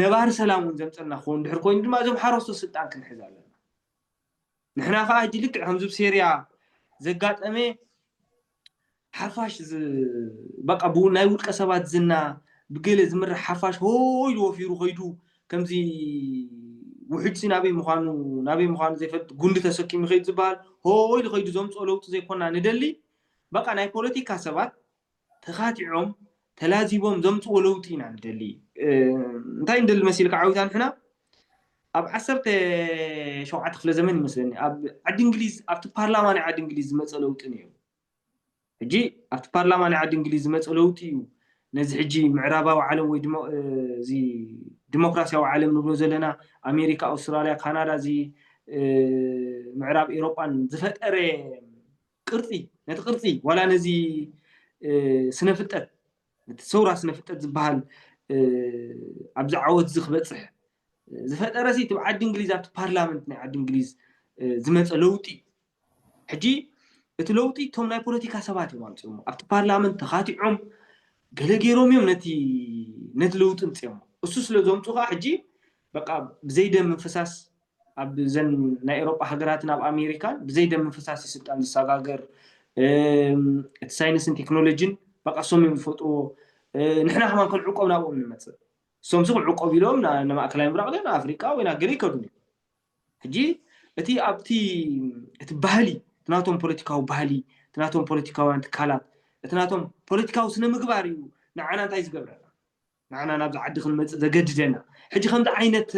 ነባሪ ሰላም እውን ዘምፀልና ክኸውን ድሕር ኮይኑ ድማ እዞም ሓረስቶ ስልጣን ክንሕዝ ኣለና ንሕና ከኣ ሕጂ ልክዕ ከምዚ ኣብ ሴርያ ዘጋጠመ ሓፋሽ በቃ ናይ ውልቀ ሰባት ዝና ብገለ ዝምራሕ ሓፋሽ ሆ ኢሉ ወፊሩ ከይዱ ከምዚ ውሕጅሲ ናበይ ምዃኑ ናበይ ምዃኑ ዘይፈልጥ ጉንዲ ተሰኪሙ ይኸይድ ዝበሃል ሆ ኢሉ ከይዱ ዘምፅኦ ለውጢ ዘይኮና ንደሊ በቃ ናይ ፖለቲካ ሰባት ተኻቲዖም ተላዚቦም ዘምጽዎ ለውጢ ኢና ንደሊ። እንታይ ንደሊ መሲልካ ዓዊታ ንሕና ኣብ ዓሰርተ ሸውዓተ ክፍለ ዘመን ይመስለኒ ኣብ ዓዲ እንግሊዝ ኣብቲ ፓርላማ ናይ ዓዲ እንግሊዝ ዝመጸ ለውጢ ነይሩ ሕጂ ኣብቲ ፓርላማ ናይ ዓዲ እንግሊዝ ዝመጸ ለውጢ እዩ ነዚ ሕጂ ምዕራባዊ ዓለም ወይ እዚ ዲሞክራሲያዊ ዓለም ንብሎ ዘለና ኣሜሪካ ኣውስትራልያ ካናዳ እዚ ምዕራብ ኤሮጳን ዝፈጠረ ቅርጺ ነቲ ቅርጺ ዋላ ነዚ ስነ ፍልጠት ነቲ ሰውራ ስነ ፍልጠት ዝበሃል ኣብዚ ዓወት እዚ ክበጽሕ ዝፈጠረ ሲ እቲ ዓዲ እንግሊዝ ኣብቲ ፓርላመንት ናይ ዓዲ እንግሊዝ ዝመፀ ለውጢ እዩ ሕጂ እቲ ለውጢ እቶም ናይ ፖለቲካ ሰባት እዮም ኣምፅኦሞ ኣብቲ ፓርላመንት ተኻቲዖም ገለ ገይሮም እዮም ነቲ ነቲ ለውጢ ምፅኦሞ እሱ ስለ ዘምፁ ከዓ ሕጂ በቃ ብዘይደም ምፍሳስ ኣብ ዘን ናይ ኤሮጳ ሃገራትን ኣብ ኣሜሪካን ብዘይ ደም ምፍሳስ እዩ ስልጣን ዝሰጋገር እቲ ሳይንስን ቴክኖሎጂን በቃ እሶም እዮም ዝፈጥርዎ ንሕና ከማን ክንዕቆብ ናብኦም ንመፅእ እሶም ሲ ክንዕቆብ ኢሎም ንማእከላይ ምብራቅ ድዮም ንኣፍሪቃ ወይ ናገለ ይከዱ ሕጂ እቲ ኣብቲ እቲ ባህሊ እቲ ናቶም ፖለቲካዊ ባህሊ እቲ ናቶም ፖለቲካውያን ትካላት እቲ ናቶም ፖለቲካዊ ስነ ምግባር እዩ ንዓና እንታይ ዝገብረና ንዓና ናብዚ ዓዲ ክንመጽእ ዘገድደና ሕጂ ከምዚ ዓይነት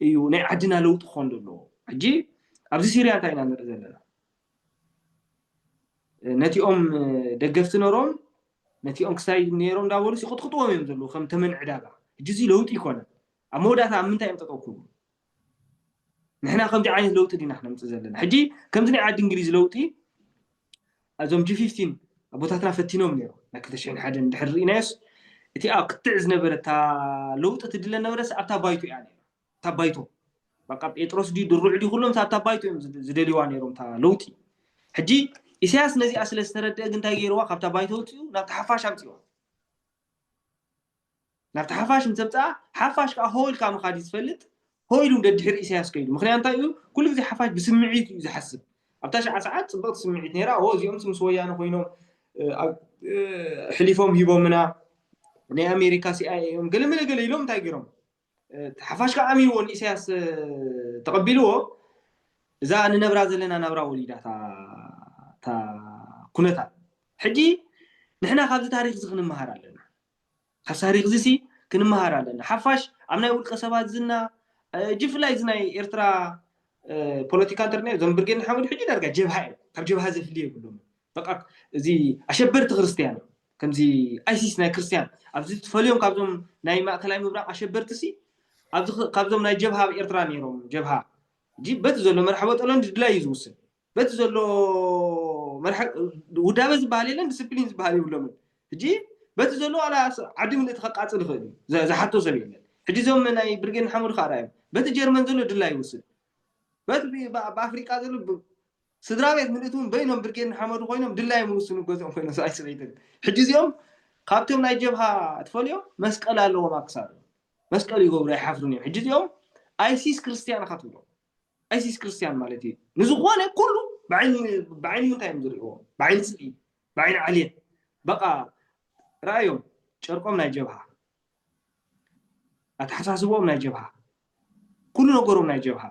እዩ ናይ ዓድና ለውጢ ክኾን ዘለዎ ሕጂ ኣብዚ ሲርያ እንታይ ኢና ንርኢ ዘለና ነቲኦም ደገፍቲ ነሮም ነቲኦም ክሳይ ነሮም እንዳበሉ ይቕጥቅጥዎም እዮም ዘለዉ ከም ተመን ዕዳጋ ሕጂ እዚ ለውጢ ይኮነ ኣብ መወዳእታ ኣብ ምንታይ እዮም ጠጠው ክብሉ ንሕና ከምዚ ዓይነት ለውጢ ዲና ክነምፅእ ዘለና ሕጂ ከምዚ ናይ ዓዲ እንግሊዝ ለውጢ እዞም ጂ ፊፍቲን ኣቦታትና ፈቲኖም ነይሮም ናይ ክልተ ሽሕን ሓደን ድሕሪ ርኢናዮስ እቲ ኣብ ክትዕ ዝነበረ እታ ለውጢ ትድለ ነበረስ ኣብታ ባይቶ እያ ነይራ እታ ባይቶ በቃ ጴጥሮስ ድዩ ድሩዕ ድዩ ኩሎም ኣብታ ባይቶ እዮም ዝደልይዋ ነይሮም እታ ለውጢ ሕጂ ኢሳያስ ነዚኣ ስለ ዝተረድአ ግን እንታይ ገይርዋ ካብታ ባይቶ ውፅኡ ናብቲ ሓፋሽ ኣምፅዋ ናብቲ ሓፋሽ ምስ ዘምጽኣ፣ ሓፋሽ ከኣ ሆው ኢልካ ምኻድ እዩ ዝፈልጥ፣ ሆው ኢሉ ደድሕሪ ኢሳያስ ከይዱ። ምኽንያቱ እንታይ እዩ፣ ኩሉ ግዜ ሓፋሽ ብስምዒት እዩ ዝሓስብ። ኣብታ ሽዓ ሰዓት ጽብቕቲ ስምዒት ነይራ፣ ሆው እዚኦምሲ ምስ ወያነ ኮይኖም ኣሕሊፎም ሂቦምና፣ ናይ ኣሜሪካ ሲኣይኤ እዮም፣ ገለመለ ገለ ኢሎም እንታይ ገይሮም። ሓፋሽ ከኣ ኣሚንዎ ንኢሳያስ ተቐቢልዎ፣ እዛ ንነብራ ዘለና ናብራ ወሊዳ እታ ኩነታት። ሕጂ ንሕና ካብዚ ታሪኽዚ ክንመሃር ኣለና። ካብ ታሪኽዚሲ ክንመሃር ኣለና። ሓፋሽ ኣብ ናይ ውልቀ ሰባት ዝና ጅፍላይ እዚ ናይ ኤርትራ ፖለቲካ እንተርናዮ እዞም ብርጌድ ንሓመዱ ሕጂ ዳርጋ ጀብሃ እዮም ካብ ጀብሃ ዘፍሊ የብሎምን በቃ እዚ ኣሸበርቲ ክርስትያን እዮም ከምዚ ኣይሲስ ናይ ክርስትያን ኣብዚ ትፈልዮም ካብዞም ናይ ማእከላይ ምብራቕ ኣሸበርቲ ሲ ኣብዚ ካብዞም ናይ ጀብሃ ኣብ ኤርትራ ነይሮም ጀብሃ ሕጂ በቲ ዘሎ መርሓ በጠሎን ድድላይ እዩ ዝውስን በቲ ዘሎ መርሐ ውዳበ ዝበሃል የለን ዲስፕሊን ዝበሃል የብሎምን ሕጂ በቲ ዘሎ ዋላ ዓዲ ምልእቲ ከቃጽል ይኽእል እዩ ዘ- ዝሓቶ ሰብ የለን ሕጂ እዞም ናይ ብርጌድ ንሓመዱ ከዓ ርኣዮም በቲ ጀርመን ዘሎ ድላ ይውስድ በቲ ብ- ብ- ኣብ ኣፍሪቃ ዘሎ ብ- ስድራ ቤት ምልእቲ እውን በይኖም ብርጌድ ንሓመዱ ኮይኖም ድላዮም ይውስኑ ገዝኦም ኮይኖም ሰብኣይ ሰበይትን ሕጂ እዚኦም ካብቶም ናይ ጀብሃ ትፈልዮም መስቀል ኣለዎም ኣብ ክሳዶም መስቀል ይገብሩ ኣይሓፍሩን እዮም ሕጂ እዚኦም ኣይሲስ ክርስትያን ኢኻ ትብሎም ኣይሲስ ክርስትያን ማለት እዩ ንዝኾነ ኩሉ ብዓይኒ ምንታይ እዮም ዝሪእዎ ብዓይኒ ፅልኢ ብዓይኒ ዓልየት በቃ ረኣዮም ጨርቆም ናይ ጀብሃ ኣተሓሳስቦኦም ናይ ጀብሃ ኩሉ ነገሮም ናይ ጀብሃ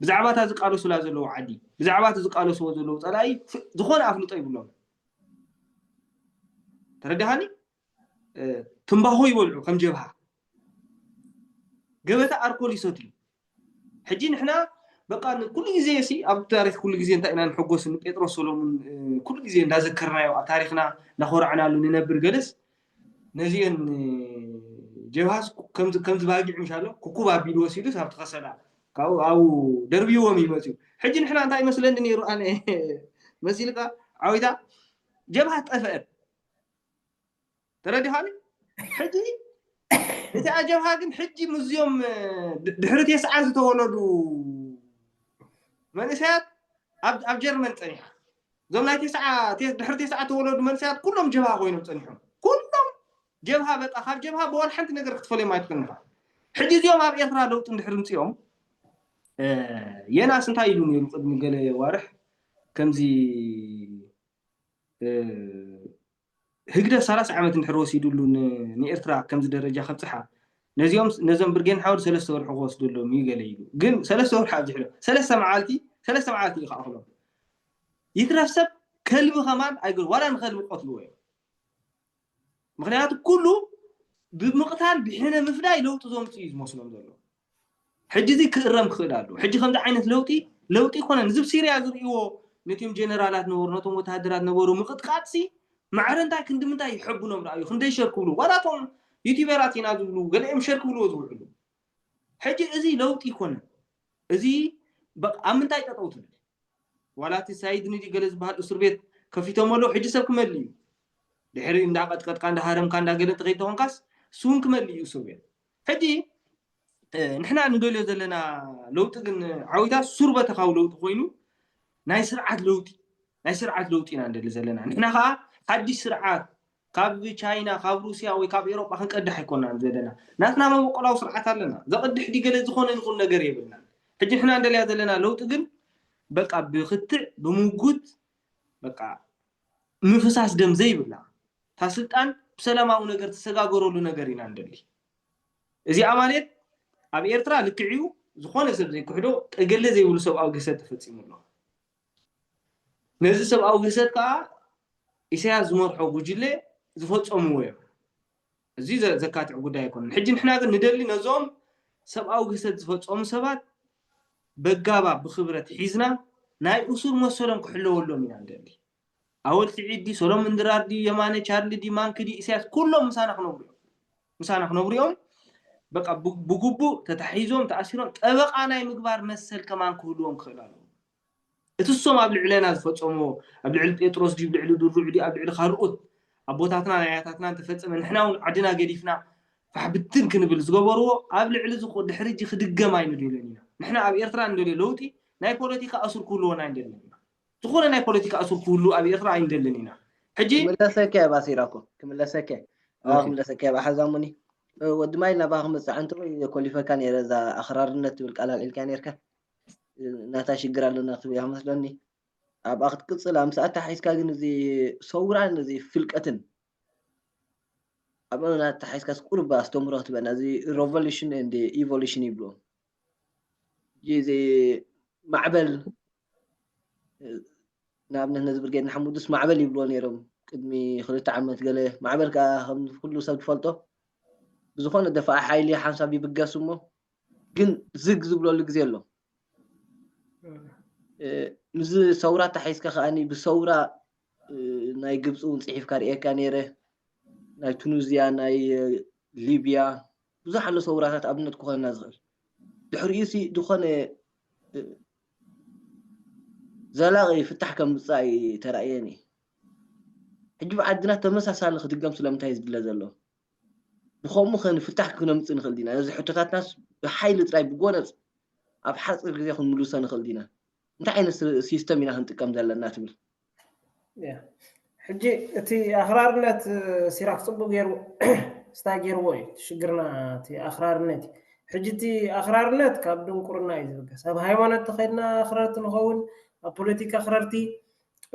ብዛዕባ እታ ዝቃለሱላ ዘለዉ ዓዲ ብዛዕባ እቲ ዝቃለስዎ ዘለዉ ፀላኢ ዝኾነ ኣፍልጦ ይብሎም ተረዳሃኒ ትምባኾ ይበልዑ ከም ጀብሃ ገበታ ኣርኮል ይሰትዩ ሕጂ ንሕና በቃ ኩሉ ግዜ ሲ ኣብ ታሪክ ኩሉ ግዜ እንታይ ኢና ንሕጎስ ንጴጥሮስ ሰሎሙን ኩሉ ግዜ እንዳዘከርናዮ ኣብ ታሪክና እናኮራዕናሉ ንነብር ገለስ ነዚአን ጀብሃስ ከምዚ ባጊዕ ምሻሎ ኩኩብ ኣቢሉ ወሲዱ ኣብቲ ከሰላ ካብኡ ኣብኡ ደርብይዎም እዩ መፅኡ ሕጂ ንሕና እንታይ መስለኒ ነይሩ ኣነ መሲልካ ዓዊታ ጀብሃ ጠፍአት ተረዲኻኒ ሕጂ እቲ ኣጀብሃ ግን ሕጂ ምዝዮም ድሕሪ ቴስዓ ዝተወለዱ መንእሰያት ኣብ ጀርመን ፀኒሓ እዞም ናይ ቴስዓ ድሕሪ ቴስዓ ተወለዱ መንእሰያት ኩሎም ጀብሃ ኮይኖም ፀኒሖም ኩሎም ጀብሃ በቃ ካብ ጀብሃ ብወላ ሓንቲ ነገር ክትፈልዮም ኣይትኽእልን ኢኻ ሕጂ እዚኦም ኣብ ኤርትራ ለውጢ እንድሕሪ ምፅኦም የናስ እንታይ ኢሉ ነይሩ ቅድሚ ገለ ዋርሕ ከምዚ ህግደፍ ሰላሳ ዓመት እንድሕር ወሲዱሉ ንኤርትራ ከምዚ ደረጃ ከብጽሓ ነዚኦም ነዞም ብርጌን ሓወድ ሰለስተ ወርሒ ክወስደሎም እዩ ገለ ኢሉ ግን ሰለስተ ወርሒ ኣብዚሕ ዶ ሰለስተ መዓልቲ ሰለስተ መዓልቲ እዩ ክኣኽሎም ይትረፍ ሰብ ከልቢ ከማን ኣይገ ዋላ ንኸልቢ ቆትልዎ እዮም ምኽንያቱ ኩሉ ብምቕታል ብሕነ ምፍዳይ ለውጢ ዘምፅእ እዩ ዝመስሎም ዘሎ ሕጂ እዚ ክእረም ክኽእል ኣለዎ ሕጂ ከምዚ ዓይነት ለውጢ ለውጢ ኮነን እዚ ሲርያ ዝርእይዎ ነቲም ጀነራላት ነበሩ ነቶም ወተሃደራት ነበሩ ምቕጥቃጥሲ ማዕረ እንታይ ክንዲ ምንታይ ይሐብኖም ርኣዩ ክንደይ ሸር ክብሉ ዋላ እቶም ዩቲበራት ኢና ዝብሉ ገሊኦም ሸር ክብልዎ ዝውዕሉ ሕጂ እዚ ለውጢ ኣይኮነን እዚ በቃ ኣብ ምንታይ ጠጠው ትብል ዋላ እቲ ሳይድኒ ድዩ ገለ ዝበሃል እሱር ቤት ከፊቶሞ ኣለዉ ሕጂ ሰብ ክመልእ እዩ ድሕሪ እንዳቀጥቀጥካ እንዳሃረምካ እንዳገለ እንተከይተኮንካስ እሱውን ክመልእ እዩ እሱር ቤት ሕጂ ንሕና ንደልዮ ዘለና ለውጢ ግን ዓዊታ ሱር በተካዊ ለውጢ ኮይኑ ናይ ስርዓት ለውጢ ናይ ስርዓት ለውጢ ኢና ንደሊ ዘለና ንሕና ከዓ ሓድሽ ስርዓት ካብ ቻይና ካብ ሩስያ ወይ ካብ ኤሮጳ ክንቀድሕ ኣይኮናን ዘደና ናትና መበቆላዊ ስርዓት ኣለና ዘቅድሕ ድዩ ገለ ዝኮነ ንኩን ነገር የብልናን ሕጂ ንሕና እንደልያ ዘለና ለውጢ ግን በቃ ብክትዕ ብምጉት በቃ ምፍሳስ ደም ዘይብላ እታ ስልጣን ብሰላማዊ ነገር ትሰጋገረሉ ነገር ኢና እንደሊ እዚኣ ማለት ኣብ ኤርትራ ልክዕዩ ዝኾነ ሰብ ዘይክሕዶ ጠገለ ዘይብሉ ሰብኣዊ ግህሰት ተፈጺሙ ኣሎ ነዚ ሰብኣዊ ግህሰት ከኣ ኢሳያስ ዝመርሖ ጉጅለ ዝፈጸምዎ እዮም። እዚ ዘካትዕ ጉዳይ ኣይኮነን። ሕጂ ንሕና ግን ንደሊ ነዞም ሰብኣዊ ግህሰት ዝፈጸሙ ሰባት በጋባብ ብክብረት ሒዝና ናይ እሱር መሰሎም ክሕለወሎም ኢና ንደሊ። ኣወል ሲዒድ ድዩ ሰሎሙን ድራር ድዩ የማነ ቻርሊ ድዩ ማንኪ ድዩ ኢሰያስ ኩሎም ምሳና ክነብሩ እዮም ምሳና ክነብሩ እዮም በቃ ብግቡእ ተታሒዞም ተኣሲሮም ጠበቃ ናይ ምግባር መሰል ከማን ክህልዎም ክኽእል ኣለዎ እቲ እሶም ኣብ ልዕለና ዝፈፀምዎ ኣብ ልዕሊ ጴጥሮስ ድዩ ልዕሊ ድሩዕ ድዩ ኣብ ልዕሊ ካልኦት ኣቦታትና ናይ ኣያታትና እንተፈፀመ ንሕና እውን ዓድና ገዲፍና ፋሕብትን ክንብል ዝገበርዎ ኣብ ልዕሊ ዝኮ ድሕሪ እጂ ክድገም ኣይንደልን ኢና ንሕና ኣብ ኤርትራ እንደልዮ ለውጢ ናይ ፖለቲካ ኣሱር ክህልዎና ኣይንደልን ኢና ዝኮነ ናይ ፖለቲካ እሱር ክህሉ ኣብ ኤርትራ ኣይንደልን ኢና ሕጂ ክምለሰኪ እባ ሲራኮ
ክምለሰኪ ኣባ ክምለሰኪ እባ ሓዛሙኒ ወዲ ማይል ናባ ክመጽእ እንተ ኮሊፈካ ነይረ እዛ ኣኽራርነት ትብል ቃል ኣልዒልካ ነይርካ ናታ ሽግር ኣለና ክትብል እያ መስለኒ ኣብኣ ክትቅጽል ኣምስኣ ተሓሒዝካ ግን እዚ ሰውራን እዚ ፍልቀትን ኣብ እምና ተሓሒዝካ ስቁርባ ኣስተምህሮ ክትበና እዚ ሮቮሉሽን እንድ ኢቮሉሽን ይብሉ ጊዜ ማዕበል ንኣብነት ነዚ ብርጌድ ንሓሙዱስ ማዕበል ይብልዎ ነይሮም ቅድሚ ክልተ ዓመት ገለ ማዕበል ከዓ ከም ኩሉ ሰብ ዝፈልጦ ብዝኾነ ደፋኢ ሓይሊ ሓንሳብ ይብገስ እሞ ግን ዝግ ዝብለሉ ግዜ ኣሎ ምዚ ሰውራ ተሓይዝካ ከዓኒ ብሰውራ ናይ ግብፂ እውን ፅሒፍካ ርእየካ ነይረ ናይ ቱኒዝያ ናይ ሊብያ ብዙሕ ኣሎ ሰውራታት ኣብነት ክኾነና ዝኽእል። ድሕሪኡሲ ዝኾነ ዘላቒ ፍታሕ ከም ዝምጽእ ኣይተራእየን እዩ። ሕጂ ኣብ ዓድና ተመሳሳሊ ክድገም ስለምንታይ እዩ ዝድለ ዘሎ? ብኸምኡኸ ንፍታሕ ክነምጽእ ንኽእል ዲና? ነዚ ሕቶታትናስ ብሓይሊ ጥራይ ብጎነጽ ኣብ ሓጺር ግዜ ክንምልሶ ንኽእል ዲና? እንታይ ዓይነት ሲስተም ኢና ክንጥቀም ዘለና ትብል?
ሕጂ እቲ ኣኽራርነት ሲራክ ፅቡቅ ገይሩ ስታይ ገይርዎ እዩ ሽግርና እቲ ኣኽራርነት እዩ ሕጂ እቲ ኣኽራርነት ካብ ድንቁርና እዩ ዝብገስ ኣብ ሃይማኖት ተኸድና ኣኽረርቲ ንኸውን ኣብ ፖለቲካ ኣኽረርቲ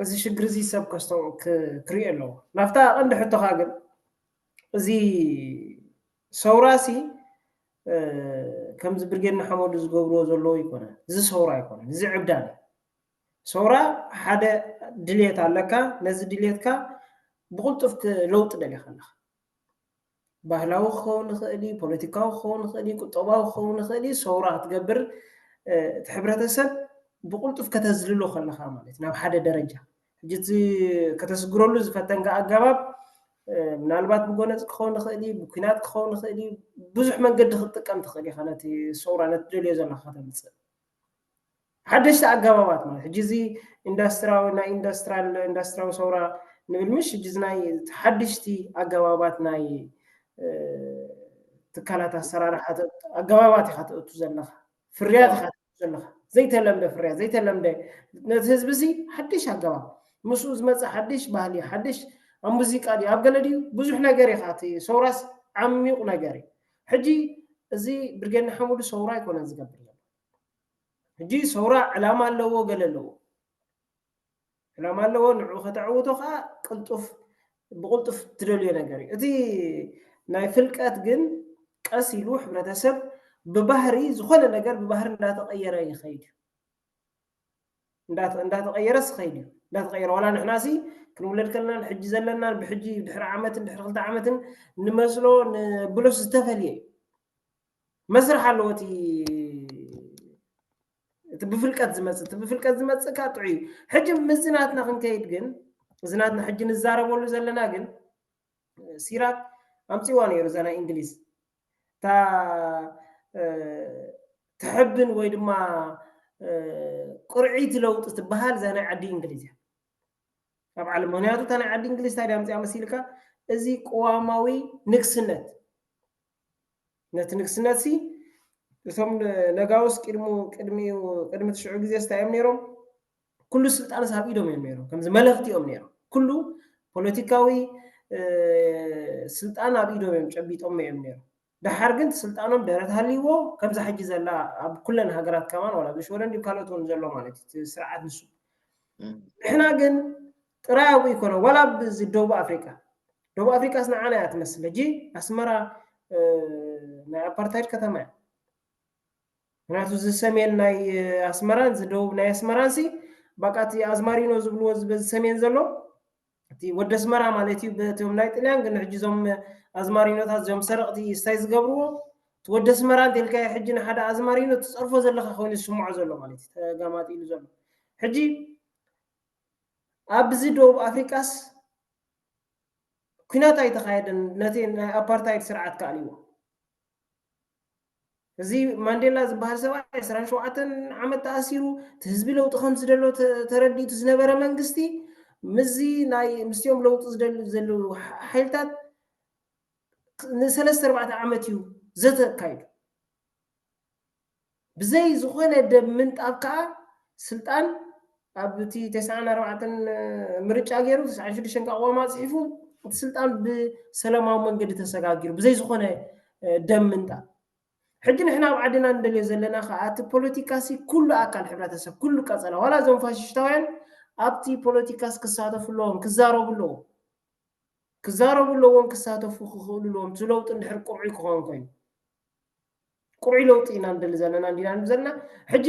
እዚ ሽግር እዚ ሰብ ከስተው ክሪኦ ኣለዎ ናብታ ቀንዲ ሕቶኻ ግን እዚ ሰውራሲ ከምዚ ብርጌድ ንሓመዱ ዝገብርዎ ዘለዎ ይኮነ እዚ ሰውራ ኣይኮነን እዚ ዕብዳን እዩ ሰውራ ሓደ ድልየት ኣለካ ነዚ ድልየትካ ብቕልጡፍ ለውጢ ደሊኻ ኣለኻ ባህላዊ ክኸውን ይኽእል እዩ ፖለቲካዊ ክኸውን ይኽእል እዩ ቁጠባዊ ክኸውን ይኽእል እዩ ሰውራ ክትገብር እቲ ሕብረተሰብ ብቕልጡፍ ከተዝልሎ ከለኻ ማለት ናብ ሓደ ደረጃ ሕጂ እቲ ከተስግረሉ ዝፈተንካ ኣገባብ ምናልባት ብጎነፅ ክኸውን ይኽእል እዩ ብኩናት ክኸውን ይኽእል እዩ ብዙሕ መንገዲ ክትጥቀም ትኽእል ኢኻ ነቲ ሰውራ ነቲ ደልዮ ዘለካ ከተምፅእ ሓደሽቲ ኣገባባት ማለት ሕጂ እዚ ኢንዳስትራዊ ናይ ኢንዳስትራል ኢንዳስትራዊ ሰውራ ንብል ምሽ ሕጂ እዚ ናይ ሓደሽቲ ኣገባባት ናይ ትካላት ኣሰራርሓ ኣገባባት ኢኻ ትእቱ ዘለኻ ፍርያት ኢኻ ትእቱ ዘለኻ ዘይተለምደ ፍርያት ዘይተለምደ ነቲ ህዝቢ እዚ ሓደሽ ኣገባብ ምስኡ ዝመፀ ሓደሽ ባህሊ ሓደሽ ኣብ ሙዚቃ ድዩ ኣብ ገለ ድዩ ብዙሕ ነገር ኢኻ እቲ ሰውራስ ዓሚቕ ነገር እዩ ሕጂ እዚ ብርጌድ ንሓመዱ ሰውራ ኣይኮነን ዝገብር ዘሎ ሕጂ ሰውራ ዕላማ ኣለዎ ገለ ኣለዎ ዕላማ ኣለዎ ንዕኡ ከተዕውቶ ከኣ ቅልጡፍ ብቕልጡፍ ትደልዮ ነገር እዩ እቲ ናይ ፍልቀት ግን ቀስ ኢሉ ሕብረተሰብ ብባህሪ ዝኾነ ነገር ብባህሪ እንዳተቐየረ ይኸይድ እዩ እንዳተቐየረስ ይኸይድ እዩ እንዳተቐየረ ዋላ ንሕና ሲ ክንውለድ ከለናን ሕጂ ዘለናን ብሕጂ ድሕሪ ዓመትን ድሕሪ ክልተ ዓመትን ንመስሎ ንብሎስ ዝተፈልየ እዩ መስርሕ ኣለዎ እቲ እቲ ብፍልቀት ዝመፅእ እቲ ብፍልቀት ዝመፅእ ከዓ ጥዑይ እዩ ሕጂ ምስዚ ናትና ክንከይድ ግን እዚ ናትና ሕጂ ንዛረበሉ ዘለና ግን ሲራክ ኣምፅዋ ነይሩ እዛ ናይ እንግሊዝ እታ ትሕብን ወይ ድማ ቁርዒት ለውጢ ትበሃል እዛ ናይ ዓዲ እንግሊዝ እያ ኣብ ዓለም ምክንያቱ እታ ናይ ዓዲ እንግሊዝ እንታይ ድያ ኣምፅኣ መሲልካ እዚ ቅዋማዊ ንግስነት ነቲ ንግስነት ሲ እቶም ነጋውስ ቅድሙ ቅድሚኡ ቅድሚ ትሽዑ ግዜ ስታይ እዮም ነይሮም ኩሉ ስልጣንስ ኣብ ኢዶም እዮም ነይሮም ከምዚ መለኽቲ እዮም ነይሮም ኩሉ ፖለቲካዊ ስልጣን ኣብ ኢዶም እዮም ጨቢጦም እዮም ነይሮም ደሓር ግን ስልጣኖም ደረት ሃልይዎ ከምዛ ሕጂ ዘላ ኣብ ኩለን ሃገራት ከማን ዋላ ብሽወደን ድዩ ካልኦት እውን ዘሎ ማለት እዩ ስርዓት ንሱ ንሕና ግን ጥራይ ኣብኡ ኣይኮነን ዋላ ኣብ እዚ ደቡብ ኣፍሪቃ ደቡብ ኣፍሪቃስ ንዓና እያ ትመስል ሕጂ ኣስመራ ናይ ኣፓርታይድ ከተማ እያ ምክንያቱ እዚ ሰሜን ናይ ኣስመራን እዚ ደቡብ ናይ ኣስመራን ሲ በቃ እቲ ኣዝማሪኖ ዝብልዎ በዚ ሰሜን ዘሎ እቲ ወደ ኣስመራ ማለት እዩ በቶም ናይ ጥልያን ግን ሕጂ እዞም ኣዝማሪኖታት እዚኦም ሰረቕቲ ስታይ ዝገብርዎ እቲ ወደ ኣስመራ እንተልካዮ ሕጂ ንሓደ ኣዝማሪኖ ትፀርፎ ዘለካ ኮይኑ ዝስምዖ ዘሎ ማለት እዩ ተጋማጢሉ ዘሎ ሕጂ ኣብዚ ደቡብ ኣፍሪቃስ ኩናት ኣይተኻየደን ነቲ ናይ ኣፓርታይድ ስርዓት ከኣልዎ እዚ ማንዴላ ዝበሃል ሰብኣይ ዕስራን ሸውዓተን ዓመት ተኣሲሩ እቲ ህዝቢ ለውጢ ከም ዝደሎ ተረዲእቱ ዝነበረ መንግስቲ ምስዚ ናይ ምስኦም ለውጢ ዝደልዩ ዘለዉ ሓይልታት ንሰለስተ ኣርባዕተ ዓመት እዩ ዘተ ኣካይዱ ብዘይ ዝኾነ ደም ምንጣብ ከኣ ስልጣን ኣብ እቲ ተስዓን ኣርባዕተን ምርጫ ገይሩ ተስዓን ሽዱሽተን ከኣ ቅዋም ኣጽሒፉ እቲ ስልጣን ብሰለማዊ መንገዲ ተሰጋጊሩ ብዘይ ዝኾነ ደም ምንጣብ ሕጂ ንሕና ኣብ ዓድና ንደልዮ ዘለና ከኣ እቲ ፖለቲካሲ ኩሉ ኣካል ሕብረተሰብ ኩሉ ቀጸላ ዋላ እዞም ፋሽሽታውያን ኣብቲ ፖለቲካስ ክሳተፉ ኣለዎም ክዛረቡ ኣለዎም ክዛረቡ ኣለዎም ክሳተፉ ክኽእሉ ኣለዎም እቲ ለውጢ እንድሕር ቅርዑይ ክኸውን ኮይኑ ቅሩይ ለውጢ ኢና ንደሊ ዘለና እንዲና ንብ ዘለና ሕጂ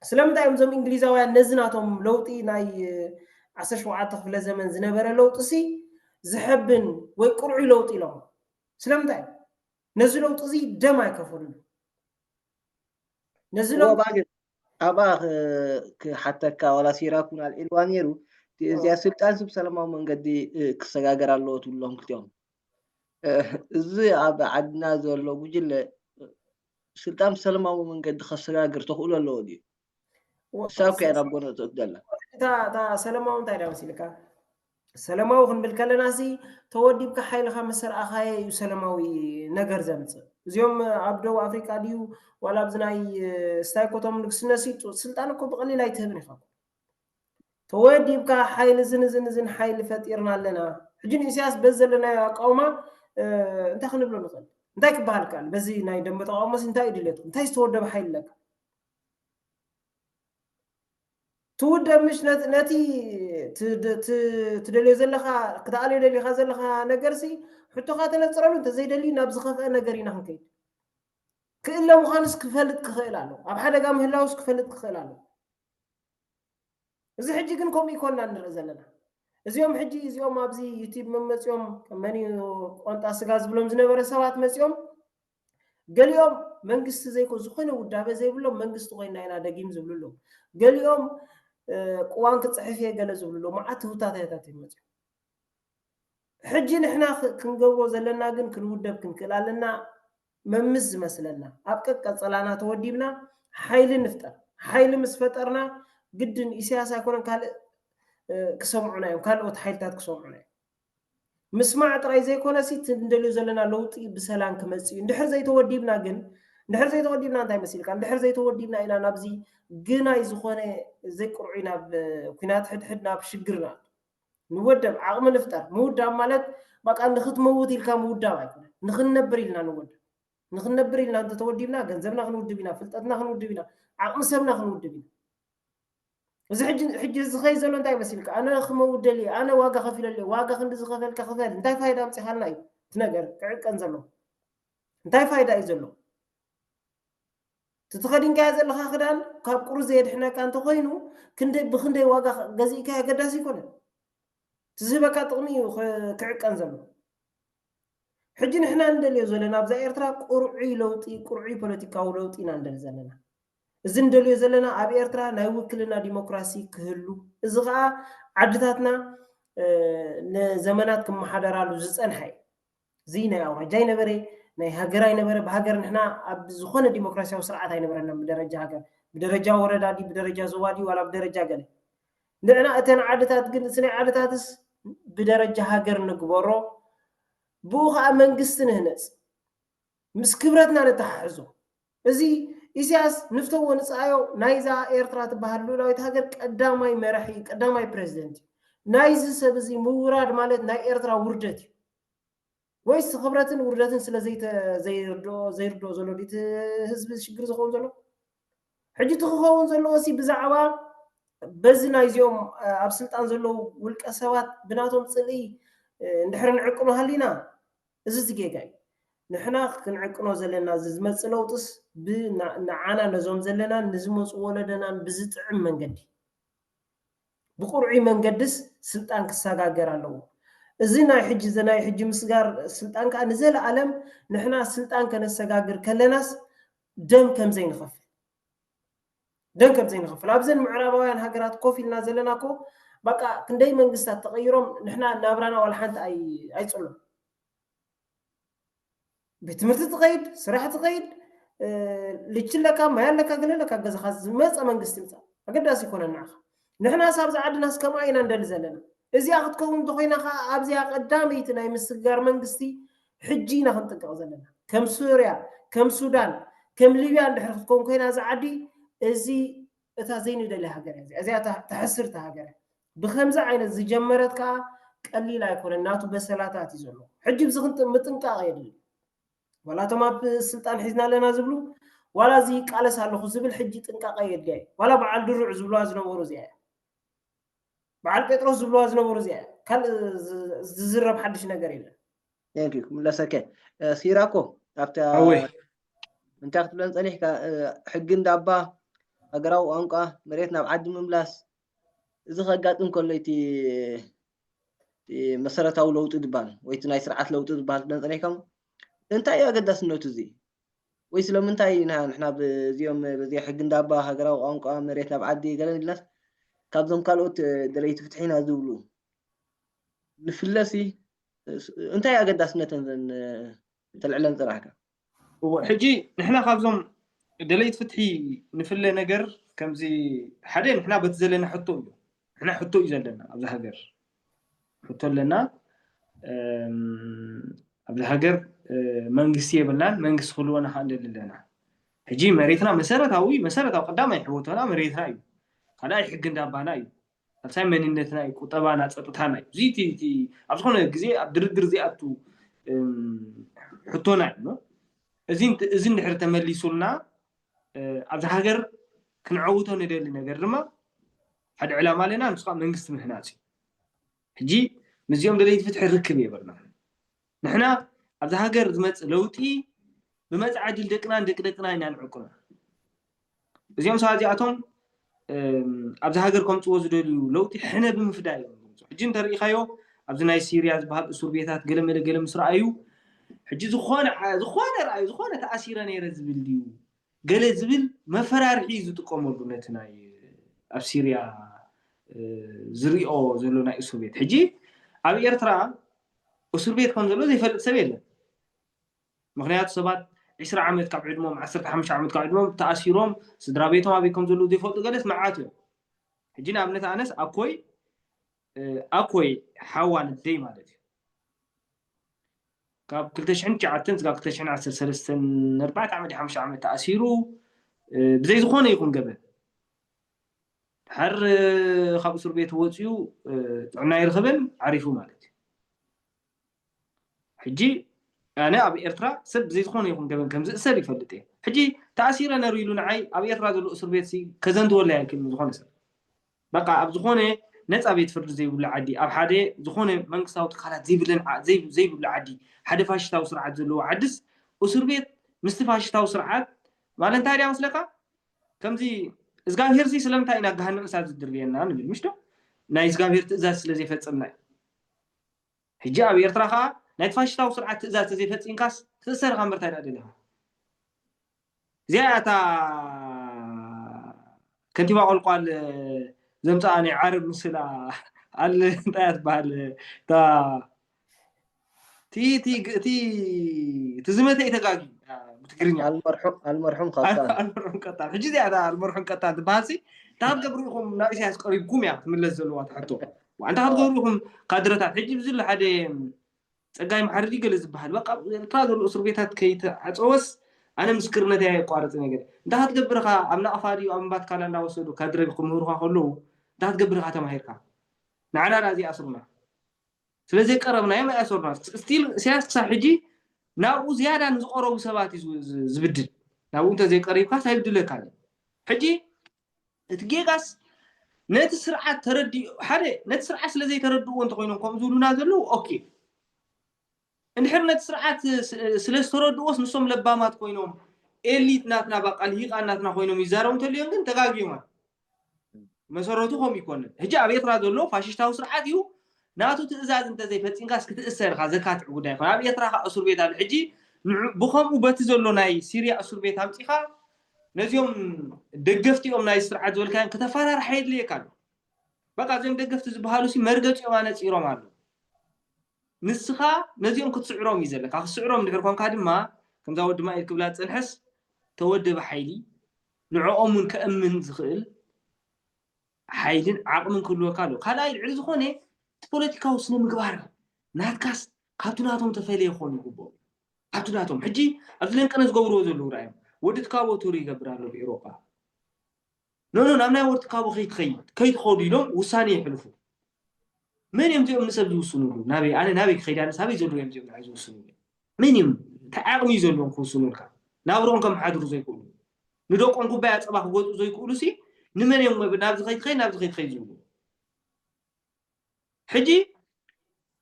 ስለምንታይ እዮም እዞም እንግሊዛውያን ነዚ ናቶም ለውጢ ናይ ዓሰርተ ሸውዓተ ክፍለ ዘመን ዝነበረ ለውጢ ሲ ዝሐብን ወይ ቅሩይ ለውጢ ኢሎም ስለምንታይ ነዚ ለውጢ እዚ ደም ኣይከፈሉን ነዚ ለውጢ ባግን ኣብኣ
ክሓተካ ዋላ ሲራኩን ኣልዒልዋ ነይሩ እዚኣ ስልጣን ስብ ሰላማዊ መንገዲ ክሰጋገር ኣለዎ ትብሎም ክልቲኦም እዚ ኣብ ዓድና ዘሎ ጉጅለ ስልጣን ብሰለማዊ መንገዲ ከሰጋግር ተኽእሎ ኣለዎ ድዩ? ክሳብ ከ ናብ ጎነ እትእት ዘላ እታ እታ
ሰለማዊ እንታይ ድያ መሲልካ ሰለማዊ ክንብል ከለና ሲ ተወዲብካ ሓይልኻ ምስ ረኣኻየ እዩ ሰለማዊ ነገር ዘምፅእ እዚኦም ኣብ ደቡብ ኣፍሪቃ ድዩ ዋላ ኣብዚ ናይ ስታይኮቶም ንግስነሲ ስልጣን እኮ ብቐሊል ኣይትህብን ኢኻ ተወዲብካ ሓይሊ እዝን እዝን እዝን ሓይሊ ፈጢርና ኣለና ሕጂ ንኢሳያስ በዚ ዘለናዮ ኣቃውማ እንታይ ክንብሎ ንኽእል እንታይ ክበሃል ይከኣል በዚ ናይ ደንበ ተቃውሞስ እንታይ እዩ ድልየትኩም እንታይ ዝተወደበ ሓይሊ ኣለካ ትውደብ ምሽ ነቲ ትደልዮ ዘለካ ክትኣልዮ ደሊካ ዘለካ ነገርሲ ሕቶካ ተነፅረሉ እንተዘይደሊ ናብ ዝኸፍአ ነገር ኢና ክንከይድ ክእለ ምዃኑስ ክፈልጥ ክኽእል ኣሎ ኣብ ሓደጋ ምህላውስ ክፈልጥ ክኽእል ኣሎ እዚ ሕጂ ግን ከምኡ ይኮና ንርኢ ዘለና እዚኦም ሕጂ እዚኦም ኣብዚ ዩቲብ መመፅኦም መን እዩ ቆንጣ ስጋ ዝብሎም ዝነበረ ሰባት መፅኦም ገሊኦም መንግስቲ ዘይኮ ዝኾነ ውዳበ ዘይብሎም መንግስቲ ኮይና ኢና ደጊም ዝብሉ ኣለዉ ገሊኦም ቅዋን ክፅሕፍ እየ ገለ ዝብሉ ኣለዉ መዓት ህውታታታት እዮም መፅኦም ሕጂ ንሕና ክንገብሮ ዘለና ግን ክንውደብ ክንክእል ኣለና መምስ ዝመስለና ኣብ ቀቀጸላና ተወዲብና ሓይሊ ንፍጠር ሓይሊ ምስ ፈጠርና ግድን ኢሰያስ ኣይኮነን ካልእ ክሰምዑና እዮም ካልኦት ሓይልታት ክሰምዑና እዮም ምስማዕ ጥራይ ዘይኮነሲ እቲ እንደልዮ ዘለና ለውጢ ብሰላም ክመጽእ እዩ እንድሕር ዘይተወዲብና ግን እንድሕር ዘይተወዲብና እንታይ መሲልካ እንድሕር ዘይተወዲብና ኢና ናብዚ ግናይ ዝኾነ ዘይቅርዑይ ናብ ኩናት ሕድሕድ ናብ ሽግርና ንወደብ ዓቕሚ ንፍጠር ምውዳብ ማለት በቃ ንኽትመውት ኢልካ ምውዳብ ኣይኮነን ንኽንነብር ኢልና ንወድብ ንኽንነብር ኢልና እንተተወዲብና ገንዘብና ክንውድብ ኢና ፍልጠትና ክንውድብ ኢና ዓቕሚ ሰብና ክንውድብ ኢና እዚ ሕጂ ሕጂ ዝኸይ ዘሎ እንታይ መሲልካ ኣነ ክመውት ደልየ ኣነ ዋጋ ከፊለ ኣለዮ ዋጋ ክንዲ ዝኸፈልካ ክፈል እንታይ ፋይዳ ኣምፂኻልና እዩ እቲ ነገር ክዕቀን ዘለዎ እንታይ ፋይዳ እዩ ዘለዎ እቲ ተኸዲንካዮ ዘለኻ ክዳን ካብ ቁሪ ዘየድሕነካ እንተኾይኑ ክንደይ ብኽንደይ ዋጋ ገዚእካዮ ኣገዳሲ ኣይኮነን። እቲ ዝህበካ ጥቕሚ እዩ ክዕቀን ዘለዎ። ሕጂ ንሕና ንደልዮ ዘለና ኣብዛ ኤርትራ ቁርዑይ ለውጢ ቁርዑይ ፖለቲካዊ ለውጢ ኢና ንደሊ ዘለና። እዚ ንደልዮ ዘለና ኣብ ኤርትራ ናይ ውክልና ዲሞክራሲ ክህሉ እዚ ከኣ ዓድታትና ንዘመናት ክመሓደራሉ ዝጸንሐ እዩ። እዚ ናይ ኣውራጃ ኣይነበረ፣ ናይ ሃገር ኣይነበረ፣ ብሃገር ንሕና ኣብ ዝኾነ ዲሞክራሲያዊ ስርዓት ኣይነበረናን ብደረጃ ሃገር፣ ብደረጃ ወረዳ ድዩ ብደረጃ ዞባ ድዩ ዋላ ብደረጃ ገለ። ንዕና እተን ዓድታት ግን እቲ ናይ ዓድታትስ ብደረጃ ሃገር ንግበሮ፣ ብኡ ከኣ መንግስቲ ንህነጽ። ምስ ክብረትና ነተሓሕዞ። እዚ ኢሳያስ ንፍተዎ ንጽኣዮ ናይዛ ኤርትራ ትበሃል ልኡላዊት ሃገር ቀዳማይ መራሒ እዩ፣ ቀዳማይ ፕረዚደንት እዩ። ናይዚ ሰብ እዚ ምውራድ ማለት ናይ ኤርትራ ውርደት እዩ። ወይስ ክብረትን ውርደትን ስለ ዘይርድኦ ዘይርድኦ ዘሎ ድዩ እቲ ህዝቢ ሽግር ዝኸውን ዘሎ? ሕጂ እቲ ክኸውን ዘለዎሲ ብዛዕባ በዚ ናይዚኦም ኣብ ስልጣን ዘለዉ ውልቀ ሰባት ብናቶም ጽልኢ እንድሕሪ ንዕቅኑ ሃሊና እዚ እቲ ጌጋ እዩ ንሕና ክንዕቅኖ ዘለና እዚ ዝመጽእ ለውጥስ ብ ንዓና ነዞም ዘለናን ንዝመጹ ወለደናን ብዝጥዕም መንገዲ ብቅርዑይ መንገድስ ስልጣን ክሳጋገር ኣለዎ እዚ ናይ ሕጂ እዚ ናይ ሕጂ ምስጋር ስልጣን ከኣ ንዘለኣለም ንሕና ስልጣን ከነሰጋግር ከለናስ ደም ከምዘይንኸፍል ደንከም ዘይንኸፍል ኣብዘን ምዕራባውያን ሃገራት ኮፍ ኢልና ዘለና እኮ በቃ ክንደይ መንግስታት ተቐይሮም ንሕና ናብራና ዋላ ሓንቲ ኣይፅሉን ቤት ትምህርቲ ትኸይድ ስራሕ ትኸይድ ልጅ ኣለካ ማይ ኣለካ ገለ ኣለካ ገዛኻ ዝመፀ መንግስቲ ይምፃእ ኣገዳሲ ይኮነን ንዓኻ ንሕናስ ኣብዛ ዓድናስ ከምኣ ኢና ንደሊ ዘለና። እዚኣ ክትከውን እንተኾይና ከኣ ኣብዚኣ ቀዳመይቲ ናይ ምስግጋር መንግስቲ ሕጂ ኢና ክንጥንቀቕ ዘለና። ከም ሱርያ፣ ከም ሱዳን፣ ከም ሊብያ እንድሕር ክትከውን ኮይና እዛ ዓዲ እዚ እታ ዘይንደልያ ሃገር እያ እዚኣ። እዚኣ እታ ተሕስርቲ ሃገር እያ። ብከምዚ ዓይነት ዝጀመረት ከኣ ቀሊል ኣይኮነን ናቱ በሰላታት እዩ ዘለዎ። ሕጂ ብዚ ምጥንቃቕ የድሊ። ዋላ እቶም ኣብ ስልጣን ሒዝና ኣለና ዝብሉ ዋላ እዚ ይቃለስ ኣለኹ ዝብል ሕጂ ጥንቃቐ የድልያ እዩ ዋላ በዓል ድሩዕ ዝብልዋ ዝነበሩ እዚኣ እያ በዓል ጴጥሮስ ዝብልዋ ዝነበሩ እዚኣ እያ ካልእ ዝዝረብ ሓድሽ ነገር የለን ቴንክ ዩ
ክምለሰከ ሲራኮ ኣብታ ኣወይ እንታይ ክትብለን ፀኒሕካ ሕጊ እንዳባ ሃገራዊ ቋንቋ መሬት ናብ ዓዲ ምምላስ እዚ ከጋጥም ከሎ እቲ መሰረታዊ ለውጢ ዝባል ወይ እቲ ናይ ስርዓት ለውጢ ዝባሃል ክነጽሪሕከም እንታይ እዩ ኣገዳስነቱ እዚ ወይ ስለምንታይ ኢና ንሕና ብዚኦም በዚ ሕጊ እንዳባ ሃገራዊ ቋንቋ መሬት ናብ ዓዲ ገለ ኢልናስ ካብዞም ካልኦት ደለይቲ ፍትሒ ኢና ዝብሉ ንፍለሲ እንታይ ኣገዳስነተን ዘን ተልዕለን ጽራሕካ እወ ሕጂ
ንሕና ካብዞም ደለይቲ ፍትሒ ንፍለ ነገር ከምዚ ሓደ ንሕና በቲ ዘለና ሕቶ እዩ ንሕና ሕቶ እዩ ዘለና ኣብዚ ሃገር ሕቶ ኣለና ኣብዚ ሃገር መንግስቲ የብልናን መንግስቲ ክህልወና ከዓ ንደሊ ኣለና ሕጂ መሬትና መሰረታዊ መሰረታዊ ቀዳማይ ሕወቶና መሬትና እዩ ካልኣይ ሕጊ እንዳባና እዩ ሳልሳይ መንነትና እዩ፣ ቁጠባና፣ ጸጥታና እዩ። እዚ እቲ እቲ ኣብ ዝኾነ ግዜ ኣብ ድርድር ዘይኣቱ ሕቶና እዩ እሞ እዚ እዚ እንድሕር ተመሊሱልና ኣብዚ ሃገር ክንዐውቶ ንደሊ ነገር ድማ ሓደ ዕላማ ኣለና ንሱ ከዓ መንግስቲ ምህናጽ እዩ። ሕጂ ምስዚኦም ደለይቲ ፍትሒ ርክብ የብልናን። ንሕና ኣብዛ ሃገር ዝመጽእ ለውጢ ብመጻኢ ዕድል ደቅናን ደቂ ደቅና ኢና ንዕቅኖ። እዚኦም ሰባት እዚኣቶም ኣብዛ ሃገር ከምጽዎ ዝደልዩ ለውጢ ሕነ ብምፍዳይ እዮም ዝምጽኡ። ሕጂ እንተርኢኻዮ ኣብዚ ናይ ሲርያ ዝበሃል እሱር ቤታት ገለመለ ገለ ምስ ረኣዩ ሕጂ ዝኾነ ዝኾነ ረኣዩ ዝኾነ ተኣሲረ ነይረ ዝብል ድዩ ገለ ዝብል መፈራርሒ እዩ ዝጥቀመሉ ነቲ ናይ ኣብ ሲርያ ዝሪኦ ዘሎ ናይ እሱር ቤት ሕጂ ኣብ ኤርትራ እሱር ቤት ከም ዘሎ ዘይፈልጥ ሰብ የለን ምክንያቱ ሰባት ዕስራ ዓመት ካብ ዕድሞም ዓሰርተ ሓሙሽተ ዓመት ካብ ዕድሞም ተኣሲሮም ስድራ ቤቶም ኣበይ ከም ዘለዉ ዘይፈልጡ ገለስ መዓት እዮም ሕጂ ንኣብነት ኣነስ ኣኮይ ኣኮይ ሓዋ ንደይ ማለት እዩ ካብ 2009 ዝጋብ 2013 ንኣርባዕተ ዓመት ሓሙሽተ ዓመት ተኣሲሩ ብዘይ ዝኾነ ይኹን ገበን ድሓር ካብ እስር ቤት ወፅኡ ጥዕና ይረኽብን ዓሪፉ ማለት እዩ ሕጂ ኣነ ኣብ ኤርትራ ሰብ ብዘይ ዝኾነ ይኹን ገበን ከም ዝእሰር ይፈልጥ እየ። ሕጂ ተኣሲረ ነሩ ኢሉ ንዓይ ኣብ ኤርትራ ዘሎ እሱር ቤት ሲ ከዘንትወለይ ኣይክእልን ዝኾነ ሰብ። በቃ ኣብ ዝኾነ ነጻ ቤት ፍርዲ ዘይብሉ ዓዲ ኣብ ሓደ ዝኾነ መንግስታዊ ትካላት ዘይብለን ዘይብሉ ዓዲ ሓደ ፋሽስታዊ ስርዓት ዘለዎ ዓድስ እሱር ቤት ምስቲ ፋሽስታዊ ስርዓት ማለት እንታይ ድያ መስለካ ከምዚ እዝጋብሄር ሲ ስለምንታይ ኢና ገሃነም እሳት ዝድርብየና ንብል ምሽ ዶ ናይ እዝጋብሄር ትእዛዝ ስለ ዘይፈጸምና እዩ። ሕጂ ኣብ ኤርትራ ከኣ ናይቲ ፋሽስታዊ ስርዓት ትእዛዝ ተዘይፈጺምካስ ክትእሰር ኢኻ እምበር ታይ ደኣ ደሊኻ። እዚኣ እያ እታ ከንቲባ ቆልቋል ዘምጽኣ ናይ ዓረብ ምስላ ኣል እንታይ እያ ትበሃል እታ እቲ እቲ እቲ እቲ ዝመተ እዩ ተጋግዩ ብትግርኛ ኣልመርሑም ኣልመርሑም
ቀጣን ኣልመርሑም ቀጣን ሕጂ እዚኣ
እታ ኣልመርሑም ቀጣን ትበሃልሲ እታ ኣብ ገብሪ ኢኹም ናብ ኢሳያስ ቀሪብኩም እያ ትምለስ ዘለዋ ትሕቶ ዋዕንታ ክትገብሩ ኢኹም ካድረታት ሕጂ ብዚ ኣሎ ሓደ ጸጋይ መሓሪ ድዩ ገለ ዝበሃል በቃ ኣብ ኤርትራ ዘሎ እስር ቤታት ከይተዓጸወስ ኣነ ምስክርነተይ ኣየቋርጽን እየ ገለ እንታይ ክትገብር ኢኻ ኣብ ናቕፋ ድዩ ኣብ እምባ ትካላ እንዳወሰዱ ካድረ ክምህሩኻ ከለዉ እንታይ ክትገብር ኢኻ ተማሂርካ ንዓና ድኣ ዘይኣስሩና ስለ ዘይቀረብናዮም ኣይኣሰሩና ስቲል እስያስ ክሳብ ሕጂ ናብኡ ዝያዳ ንዝቐረቡ ሰባት እዩ ዝብድል ናብኡ እንተ ዘይቀሪብካስ ኣይብድለካን እዩ ሕጂ እቲ ጌጋስ ነቲ ስርዓት ተረዲ ሓደ ነቲ ስርዓት ስለ ዘይተረድእዎ እንተኮይኖም ከምኡ ዝብሉና ዘለዉ ኦኬ እንድሕር ነቲ ስርዓት ስለ ዝተረድዎስ ንሶም ለባማት ኮይኖም ኤሊት ናትና ባቃ ልሂቃን ናትና ኮይኖም ይዛረቡ እንተልዮም ግን ተጋጊዮም መሰረቱ ከምኡ ይኮንን ሕጂ ኣብ ኤርትራ ዘሎ ፋሽሽታዊ ስርዓት እዩ ናቱ ትእዛዝ እንተዘይፈፂምካስ ክትእሰር ኢኻ ዘካትዕ ጉዳይ ይኮን ኣብ ኤርትራ ከዓ እሱር ቤት ኣሎ ሕጂ ብከምኡ በቲ ዘሎ ናይ ሲርያ እሱር ቤት ኣምፂኻ ነዚኦም ደገፍቲኦም ናይዚ ስርዓት ዝበልካዮም ክተፋራርሓ የድልየካ ኣሎ በቃ እዚኦም ደገፍቲ ዝበሃሉሲ መርገጺኦም ኣነጺሮም ኣለዉ ንስኻ ነዚኦም ክትስዕሮም እዩ ዘለካ ክትስዕሮም እንድሕር ኮንካ ድማ ከምዛ ወዲ ማኢል ክብላ ዝጸንሐስ ተወደበ ሓይሊ ንዕኦም እውን ከእምን ዝኽእል ሓይልን ዓቕምን ክህልወካ ኣለዎ ካልኣይ ልዕሊ ዝኾነ እቲ ፖለቲካዊ ስነ ምግባር ናትካስ ካብቲ ናቶም ተፈለየ ክኾኑ ይግብኦም ኣቱ ናቶም ሕጂ ኣብዚ ለንቀነ ዝገብርዎ ዘለዉ ራኣዮም ወዲ ትካቦ ቱር ይገብር ኣሎ ብ ኤሮጳ ኖኖ ናብ ናይ ወዲ ትካቦ ከይትኸይድ ከይትኸዱ ኢሎም ውሳኔ ይሕልፉ መን እዮም እዚኦም ንሰብ ዝውስኑሉ ናበይ ኣነ ናበይ ክኸይድ ኣነስ ኣበይ ዘለዉ እዮም እዚኦም ንዓይ ዝውስኑሉ መን እዮም እንታይ ዓቕሚ እዩ ዘለዎም ክውስኑልካ ናብሮኦም ከምሓድሩ ዘይክእሉ ንደቆም ኩባያ ፀባ ክገዝኡ ዘይክእሉ ሲ ንመን እዮም ናብዚ ከይትኸይድ ናብዚ ከይትኸይድ ዝብሉ ሕጂ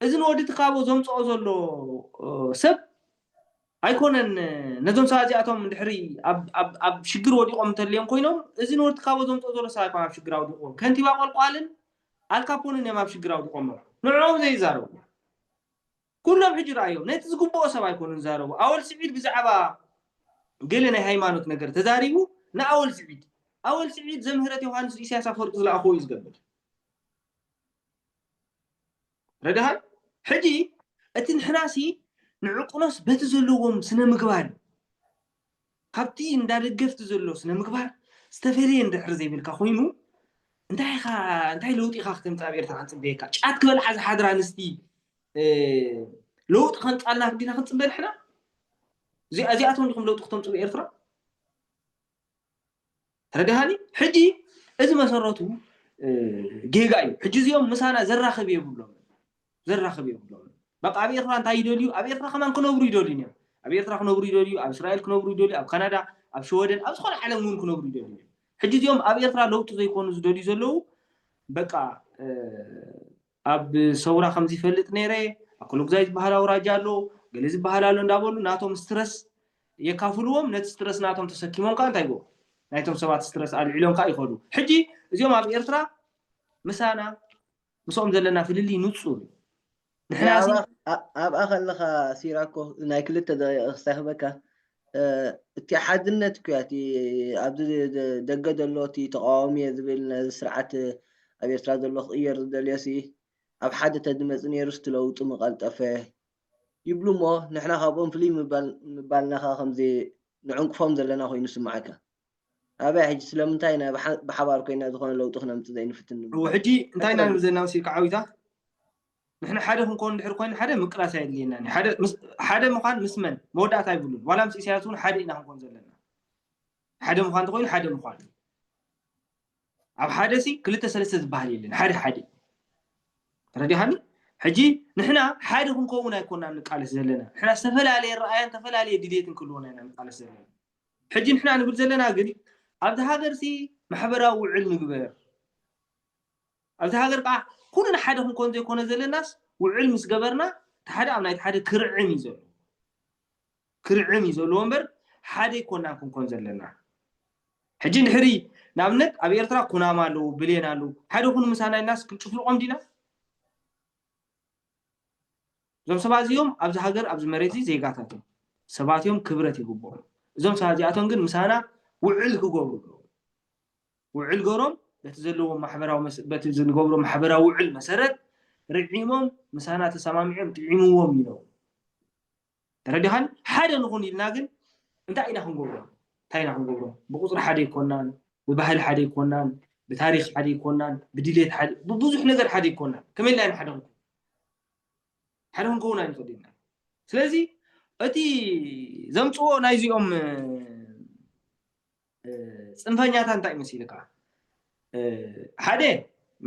እዚ ንወዲ ትካቦ ዘምጽኦ ዘሎ ሰብ ኣይኮነን ነዞም ሰባት እዚኣቶም ድሕሪ ኣብ ሽግር ወዲቖም እንተልዮም ኮይኖም እዚ ንወዲ ትካቦ ዘምጽኦ ዘሎ ሰብ ኣይኮነ ኣብ ሽግር ኣውዲቕዎም ከንቲባ ቆልቋልን ኣልካፖንን እዮም ኣብ ሽግር ኣውዲቖሞ ንዕኦም ዘይዛረቡ ኩሎም ሕጂ ረኣዮም ነቲ ዝግብኦ ሰብ ኣይኮኑን ዝዛረቡ ኣወል ስዒድ ብዛዕባ ገለ ናይ ሃይማኖት ነገር ተዛሪቡ ንኣወል ስዒድ ኣወል ስዒድ ዘምህረት ዮሃንስ ኢሳያስ ኣፈወርቂ ዝለኣኽዎ እዩ ዝገብር ረዳሃ ሕጂ እቲ ንሕናሲ ንዕቁኖስ በቲ ዘለዎም ስነ ምግባር ካብቲ እንዳ ደገፍቲ ዘሎ ስነ-ምግባር ዝተፈልየ እንድሕር ዘይብልካ ኮይኑ እንታይ ኢኻ እንታይ ለውጢ ኢኻ ክተምጽእ ኣብ ኤርትራ ክንጽበየካ? ጫት ክበልዓ ዝሓድራ ኣንስቲ ለውጢ ከምጽኣልና ዲና ክንጽበ ንሕና? እዚኣ እዚኣቶም ዲኹም ለውጢ ክተምጽኡ ኤርትራ? ተረዳሃኒ ሕጂ እዚ መሰረቱ ጌጋ እዩ ሕጂ እዚኦም ምሳና ዘራክብ የብሎምን ዘራክብ የብሎምን በቃ ኣብ ኤርትራ እንታይ ይደልዩ ኣብ ኤርትራ ከማን ክነብሩ ይደልዩ እዮም ኣብ ኤርትራ ክነብሩ ይደልዩ ኣብ እስራኤል ክነብሩ ይደልዩ ኣብ ካናዳ ኣብ ሸወደን ኣብ ዝኾነ ዓለም እውን ክነብሩ ይደልዩ እዮም ሕጂ እዚኦም ኣብ ኤርትራ ለውጢ ዘይኮኑ ዝደልዩ ዘለዉ በቃ ኣብ ሰውራ ከምዚ ይፈልጥ ነይረ፣ ኣብ ኮሎግዛይ ዝበሃል ኣውራጃ ኣሎ፣ ገለ ዝበሃል ኣሎ እንዳበሉ ናቶም ስትረስ የካፍልዎም፣ ነቲ ስትረስ ናቶም ተሰኪሞም ከኣ እንታይ ይገብሩ፣ ናይቶም ሰባት ስትረስ ኣልዒሎም ከኣ ይኸዱ። ሕጂ እዚኦም ኣብ ኤርትራ ምሳና ምስኦም ዘለና ፍልልይ ንጹር እዩ። ንሕናሲ
ኣብኣ ከለኻ ሲራኮ ናይ ክልተ ደቂቅ ክሳይ ክህበካ እቲ ሓድነት እኮ እቲ ኣብዚ ደገ ዘሎ እቲ ተቃዋሚ እየ ዝብል ነዚ ስርዓት ኣብ ኤርትራ ዘሎ ክቕየር ዝደልዮሲ ኣብ ሓደ ተዝመጽ ኔሩስ እቲ ለውጢ ምቐልጠፈ ይብሉ እሞ ንሕና ካብኦም ፍልይ ምባልናኻ ከምዚ ንዕንቅፎም ዘለና ኮይኑ ይስምዓካ ኣበይ ሕጂ ስለምንታይ ኢና ብሓባር ኮይና ዝኾነ ለውጢ ክነምጽእ ዘይንፍትን ንብሎም ሕጂ እንታይ
ኢና ንብል ዘለና መሲልካ ዓዊታ ንሕና ሓደ ክንኮን እንድሕር ኮይና ሓደ ምቅላስ ኣየድልየናን እዩ ሓደ ሓደ ምዃን ምስ መን መወዳእታ ኣይብሉን ዋላ ምስ ኢሳያስ እውን ሓደ ኢና ክንኮን ዘለና ሓደ ምዃን እንተኮይኑ ሓደ ምዃን እዩ ኣብ ሓደ ሲ ክልተ ሰለስተ ዝበሃል የለን ሓደ ሓደ ተረዲኻኒ ሕጂ ንሕና ሓደ ክንከውን ኣይኮናን ንቃለስ ዘለና ንሕና ዝተፈላለየ ረኣያን ዝተፈላለየ ድሌትን ክህልወና ኢና ንቃለስ ዘለና ሕጂ ንሕና ንብል ዘለና ግን ኣብዚ ሃገር ሲ ማሕበራዊ ውዕል ንግበር ኣብ'ዛ ሃገር ከኣ ኩልና ሓደ ክንኮን ዘይኮነ ዘለናስ ውዕል ምስ ገበርና እቲ ሓደ ኣብ ናይቲ ሓደ ክርዕም እዩ ዘለዎ ክርዕም እዩ ዘለዎ እምበር ሓደ ኣይኮናን ክንኮን ዘለና ሕጂ እንድሕሪ ንኣብነት ኣብ ኤርትራ ኩናማ ኣለዉ ብሌን ኣለዉ ሓደ ኩኑ ምሳና ኢልናስ ክንጭፍልቆም ዲና እዞም ሰባት እዚኦም ኣብዚ ሃገር ኣብዚ መሬት እዚ ዜጋታት እዮም ሰባት እዮም ክብረት ይግብኦም እዞም ሰባት እዚኣቶም ግን ምሳና ውዕል ክገብሩ ኣለዎ ውዕል ገሮም በቲ ዘለዎም ማሕበራዊ መሰ በቲ ዝንገብሮ ማሕበራዊ ውዕል መሰረት ርዒሞም ምሳና ተሰማሚዖም ጥዒምዎም ይነብሩ። ተረዲኻኒ? ሓደ ንኹን ኢልና ግን እንታይ ኢና ክንገብሮ እንታይ ኢና ክንገብሮ ብቁፅሪ ሓደ ኣይኮናን ብባህሊ ሓደ ኣይኮናን ብታሪክ ሓደ ኣይኮናን ብድሌት ሓደ ብብዙሕ ነገር ሓደ ኣይኮናን ከመይ ኢልና ኢና ሓደ ክንከውን ሓደ ክንከውን ኣይንኽእል ኢና ስለዚ እቲ ዘምፅዎ ናይዚኦም ፅንፈኛታት እንታይ መሲልካ ሓደ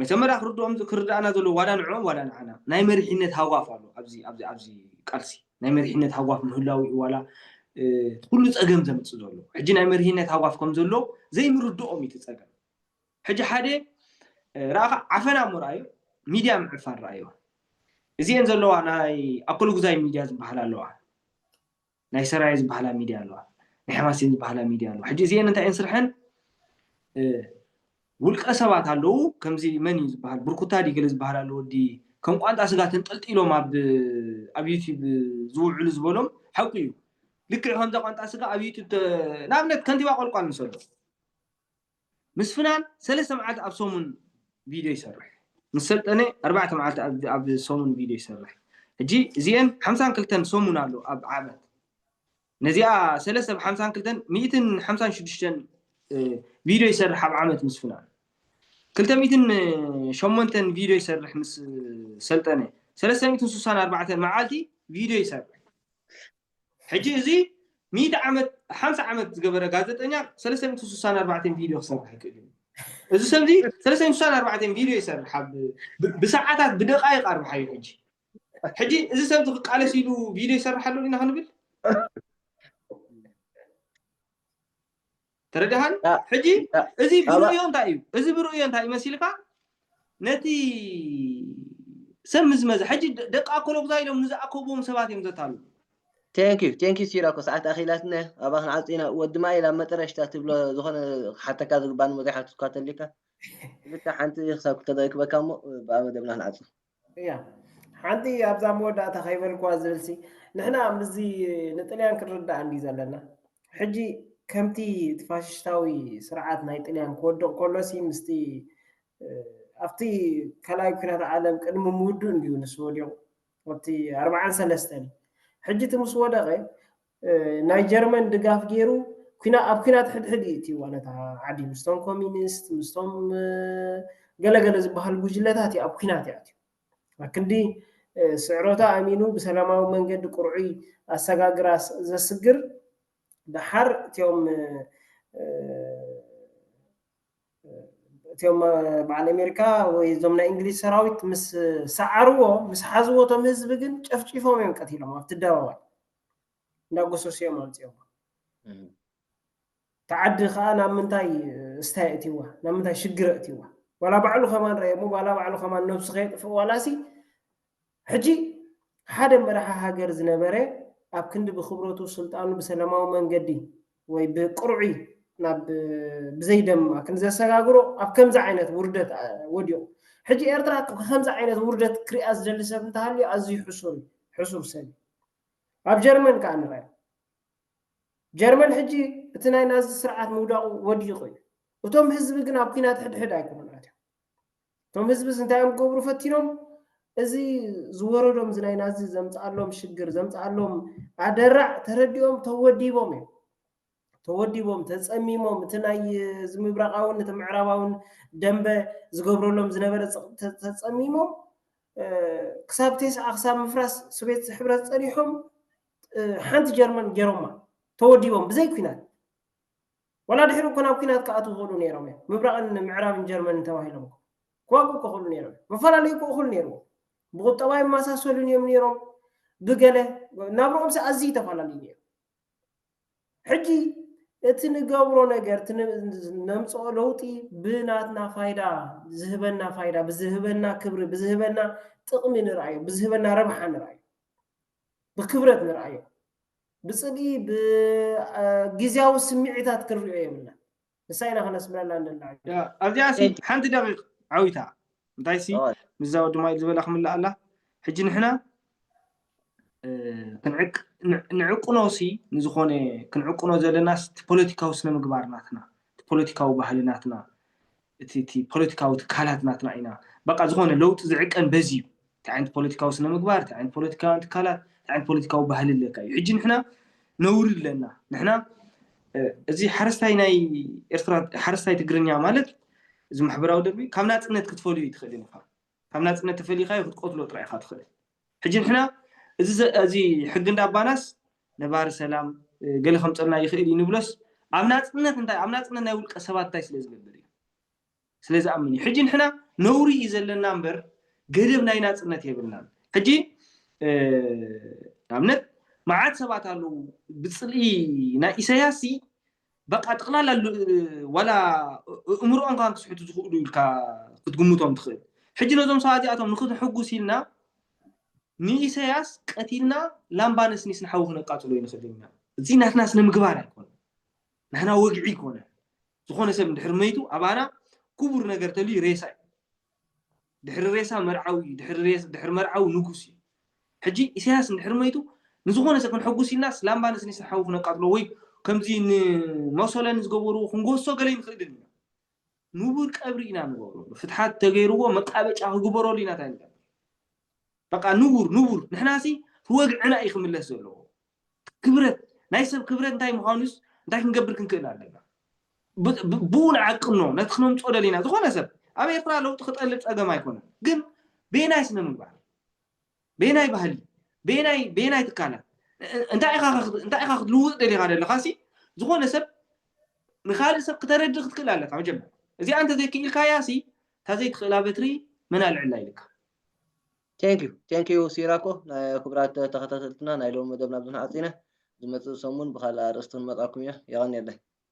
መጀመርያ ክርድኦም ክርድኣና ዘለዎ ዋላ ንዕኦም ዋላ ንዓና ናይ መሪሕነት ሃዋፍ ኣሎ ኣብዚ ኣብዚ ኣብዚ ቃልሲ ናይ መሪሕነት ሃዋፍ ምህላው እዩ ዋላ እቲ ኩሉ ፀገም ዘምፅእ ዘሎ ሕጂ ናይ መሪሕነት ሃዋፍ ከም ዘሎ ዘይምርድኦም እዩ እቲ ፀገም ሕጂ ሓደ ረኣኻ ዓፈና እሞ ረኣዮ ሚድያ ምዕፋን ረኣዮ እዚአን ዘለዋ ናይ ኣኮልጉዛይ ሚድያ ዝበሃል ኣለዋ ናይ ሰራየ ዝባሃላ ሚድያ ኣለዋ ናይ ሕማሴን ዝባሃላ ሚድያ ኣለዋ ሕጂ እዚኤን እንታይ እየን ስርሐን ውልቀ ሰባት ኣለዉ ከምዚ መን እዩ ዝባሃል ብርኩታ ድዩ ገለ ዝባሃል ኣሎ ወዲ ከም ቋንጣ ስጋ ተንጠልጢሎም ኣብ ኣብ ዩቲብ ዝውዕሉ ዝበሎም ሓቁ እዩ ልክዕ ከምዛ ቋንጣ ስጋ ኣብ ዩቲብ ንኣብነት ከንቲባ ቆልቋል ንሰዶ ምስፍናን ሰለስተ መዓልቲ ኣብ ሰሙን ቪድዮ ይሰርሕ ምስ ሰልጠነ ኣርባዕተ መዓልቲ ኣብ ሰሙን ቪድዮ ይሰርሕ ሕጂ እዚኤን ሓምሳን ክልተን ሰሙን ኣሎ ኣብ ዓመት ነዚኣ ሰለስተ ብሓምሳን ክልተን ሚእትን ሓምሳን ሽዱሽተን ቪድዮ ይሰርሕ ኣብ ዓመት ምስፍናን ክልተ ሚእትን ሸሞንተን ቪድዮ ይሰርሕ ምስ ሰልጠነ ሰለስተ ሚእትን ስሳን ኣርባዕተን መዓልቲ ቪድዮ ይሰርሕ ሕጂ እዚ ሚእቲ ዓመት ሓምሳ ዓመት ዝገበረ ጋዘጠኛ ሰለስተ ሚእቲ ስሳን ኣርባዕተን ቪድዮ ክሰርሕ ኣይክእልን እዩ እዚ ሰብ እዚ ሰለስተ ሚእቲ ስሳን ኣርባዕተን ቪድዮ ይሰርሕ ኣብ ብ- ብሰዓታት ብደቃይቅ ኣርብሓዮ ሕጂ ሕጂ እዚ ሰብ እዚ ክቃለስ ኢሉ ቪድዮ ይሰርሕ ኣሎ ኢና ክንብል ተረዳሃኒ ሕጂ እዚ ብርእዮ እንታይ እዩ እዚ ብርእዮ እንታይ እዩ መሲልካ ነቲ ሰብ ምስ መዘ ሕጂ ደቂ ኣኮሎጉዛ ኢሎም ንዝኣከብዎም ሰባት እዮም ዘታሉ ቴንክ ዩ
ቴንክ ዩ ሲራኮ ሰዓት ኣኺላትነ ኣባ ክንዓጽ ኢና ወዲ ማይ ናብ መጠረሽታ ትብሎ ዝኾነ ክሓተካ ዝግባእ ንሞ ዘይሓትትኳ ተሊካ ብልካ ሓንቲ ክሳብ ክተረክበካ እሞ ብኣ መደብና ክንዓጽ እያ
ሓንቲ ኣብዛ መወዳእታ ከይበልክዋ ዝብልሲ ንሕና ምስዚ ንጥልያን ክንርዳእ እንዲ ዘለና ሕጂ ከምቲ እቲ ፋሽሽታዊ ስርዓት ናይ ጥልያን ክወድቕ ከሎሲ ምስቲ ኣብቲ ካልኣይ ኩናት ዓለም ቅድሚ ምውድኡ እንዲዩ ንሱ ወዲቑ ኣብቲ ኣርብዓን ሰለስተን እዩ ሕጂ እቲ ምስ ወደቐ ናይ ጀርመን ድጋፍ ጌሩ ኩና ኣብ ኩናት ሕድሕድ እዩ እትይዋ ነታ ዓዲ ምስቶም ኮሚኒስት ምስቶም ገለ ገለ ዝበሃሉ ጉጅለታት እዩ ኣብ ኩናት እዩ ኣትዩ ኣክንዲ ስዕረቱ ኣሚኑ ብሰላማዊ መንገዲ ቁርዑይ ኣሰጋግራ ዘስግር ደሓር እትዮም እትዮም በዓል ኣሜሪካ ወይ እዞም ናይ እንግሊዝ ሰራዊት ምስ ሰዓርዎ ምስ ሓዝዎ እቶም ህዝቢ ግን ጨፍጪፎም እዮም ቀቲሎም ኣብቲ ኣደባባይ እንዳጎሰሱ እዮም ኣምፂኦማ እታ ዓዲ ከዓ ናብ ምንታይ እስታ የእትይዋ ናብ ምንታይ ሽግር የእትይዋ ዋላ ባዕሉ ከማን ረእየሞ ዋላ ባዕሉ ከማን ነብሱ ከየጥፍእ ዋላሲ ሕጂ ሓደ መራሒ ሃገር ዝነበረ ኣብ ክንዲ ብክብረቱ ስልጣኑ ብሰላማዊ መንገዲ ወይ ብቅርዑይ ናብ ብዘይ ደማ ክንዲ ዘሰጋግሮ ኣብ ከምዚ ዓይነት ውርደት ወዲቑ ሕጂ ኤርትራ ከምዚ ዓይነት ውርደት ክሪኣ ዝደሊ ሰብ እንተሃልዩ ኣዝዩ ሕሱር እዩ ሕሱር ሰብ እዩ ኣብ ጀርመን ከዓ ንርኣዮ ጀርመን ሕጂ እቲ ናይ ናዚ ስርዓት ምውዳቑ ወዲቑ እዩ እቶም ህዝቢ ግን ኣብ ኩናት ሕድሕድ ኣይኮኑን ኣትዮም እቶም ህዝብስ እንታይ እዮም ክገብሩ ፈቲኖም? እዚ ዝወረዶም እዚ ናይ ናዚ ዘምጽኣሎም ሽግር ዘምጽኣሎም ኣደራዕ ተረዲኦም ተወዲቦም እዮም። ተወዲቦም ተጸሚሞም እቲ ናይ እዚ ምብራቓውን እቲ ምዕራባውን ደንበ ዝገብረሎም ዝነበረ ጽቕጢ ተጸሚሞም ክሳብ ቴስዓ ክሳብ ምፍራስ ሶቤት ሕብረት ጸኒሖም ሓንቲ ጀርመን ገይሮማ ተወዲቦም ብዘይ ኩናት ዋላ ድሕሪ እኮ ናብ ኩናት ክኣትዉ ይኽእሉ ነይሮም እዮም ምብራቕን ምዕራብን ጀርመንን ተባሂሎም እኮ ክዋግኡ እኮ ይኽእሉ ነይሮም እዮም መፈላለዩ እኮ እኹል ነይርዎ ብቑጠባ ይመሳሰሉን እዮም ነይሮም ብገለ ናብርኦምሲ ኣዝዩ ተፈላለዩ ነይሩ ሕጂ እቲ ንገብሮ ነገር እቲ ነምፅኦ ለውጢ ብናትና ፋይዳ ዝህበና ፋይዳ ብዝህበና ክብሪ ብዝህበና ጥቕሚ ንርኣዮ ብዝህበና ረብሓ ንርኣዮ ብክብረት ንርኣዮ ብጽልኢ ብግዝያዊ ስምዒታት ክንሪኦ የብልና ንሳ ኢና ከነስምረላ ንላዕ ኣብዚኣ ሲ
ሓንቲ ደቂቕ ዓዊታ እንታይ ሲ ምዛ ወዲ ማይል ዝበላ ክምላ ኣላ ሕጂ ንሕና ንዕቅኖ ሲ ንዝኾነ ክንዕቅኖ ዘለና ፖለቲካዊ ስነ ምግባር ናትና ፖለቲካዊ ባህሊ ናትና እቲ እቲ ፖለቲካዊ ትካላት ናትና ኢና በቃ ዝኾነ ለውጢ ዝዕቀን በዚ እዩ እንታይ ዓይነት ፖለቲካዊ ስነ ምግባር እንታይ ዓይነት ፖለቲካውያን ትካላት እንታይ ዓይነት ፖለቲካዊ ባህሊ ኣለካ እዩ ሕጂ ንሕና ነውሪ ኣለና ንሕና እዚ ሓረስታይ ናይ ኤርትራ ሓረስታይ ትግርኛ ማለት እዚ ማሕበራዊ ደርቢ ካብ ናጽነት ክትፈልዩ ኣይትኽእልን ኢኻ ካብ ናጽነት ተፈሊኻዮ ክትቆትሎ ጥራይ ኢኻ ትኽእል ሕጂ ንሕና እዚ ሕጊ እንዳባናስ ነባሪ ሰላም ገለ ከምጸልና ይኽእል እዩ ንብሎስ ኣብ ናጽነት እንታይ ኣብ ናጽነት ናይ ውልቀ ሰባት እንታይ ስለ ዝገብር እዩ ስለ ዝኣምን እዩ ሕጂ ንሕና ነውሪ እዩ ዘለና እምበር ገደብ ናይ ናጽነት የብልናን ሕጂ ንኣብነት መዓት ሰባት ኣለዉ ብጽልኢ ናይ ኢሳያስ በቃ ጥቅላላ ዋላ እእምሮኦም ካን ክስሕቱ ዝኽእሉ ኢልካ ክትግምቶም ትኽእል ሕጂ ነዞም ሰባት እዚኣቶም ንክትሕጉስ ኢልና ንኢሰያስ ቀቲልና ላምባ ነስኒስ ንሓዊ ክነቃጽሎ ይንኽእል ኢና እዚ ናትና ስነ ምግባር ኣይኮነ ናህና ወግዒ ይኮነ ዝኾነ ሰብ እንድሕር መይቱ ኣባና ክቡር ነገር ተልዩ ሬሳ እዩ ድሕሪ ሬሳ መርዓዊ እዩ ድሕሪ መርዓዊ ንጉስ እዩ ሕጂ ኢሰያስ እንድሕሪ መይቱ ንዝኾነ ሰብ ክንሕጉስ ኢልናስ ላምባ ነስኒስና ሓዊ ክነቃጽሎ ወይ ከምዚ ንሞሶለኒ ዝገበርዎ ክንጎሶ ገለ ይንኽእልን ኢና ንቡር ቀብሪ ኢና ንገብረሉ ፍትሓት ተገይርዎ መቃበጫ ክግበረሉ ኢና ታይ ንገብር በቃ ንቡር ንቡር ንሕናሲ ትወግዕና እዩ ክምለስ ዘለዎ ክብረት ናይ ሰብ ክብረት እንታይ ምዃኑስ እንታይ ክንገብር ክንክእል ኣለና ብኡ ንዓቅኖ ነቲ ክነምፅኦ ደሊና ዝኾነ ሰብ ኣብ ኤርትራ ለውጢ ክጠልብ ፀገም ኣይኮነን ግን ቤናይ ስነ ምግባር ቤናይ ባህሊ ቤናይ ቤናይ ትካላት እንታይ ኢኻ ክትልውጥ ደሊኻ ዘለኻ ሲ ዝኾነ ሰብ ንካልእ ሰብ ክተረድእ ክትክእል ኣለካ መጀመርያ እዚኣ እንተዘይክኢልካያ ሲ እታ ዘይትኽእላ በትሪ መን ኣልዕላ ኢልካ Thank
you Thank you ሲራኮ ክቡራት ተኸታተልትና ናይ ሎሚ መደብና ኣብዚ ንዓጺነ ዝመጽእ ሰሙን ብኻልእ ኣርእስቲ ክንመጻኩም ኢና የቐንየለይ።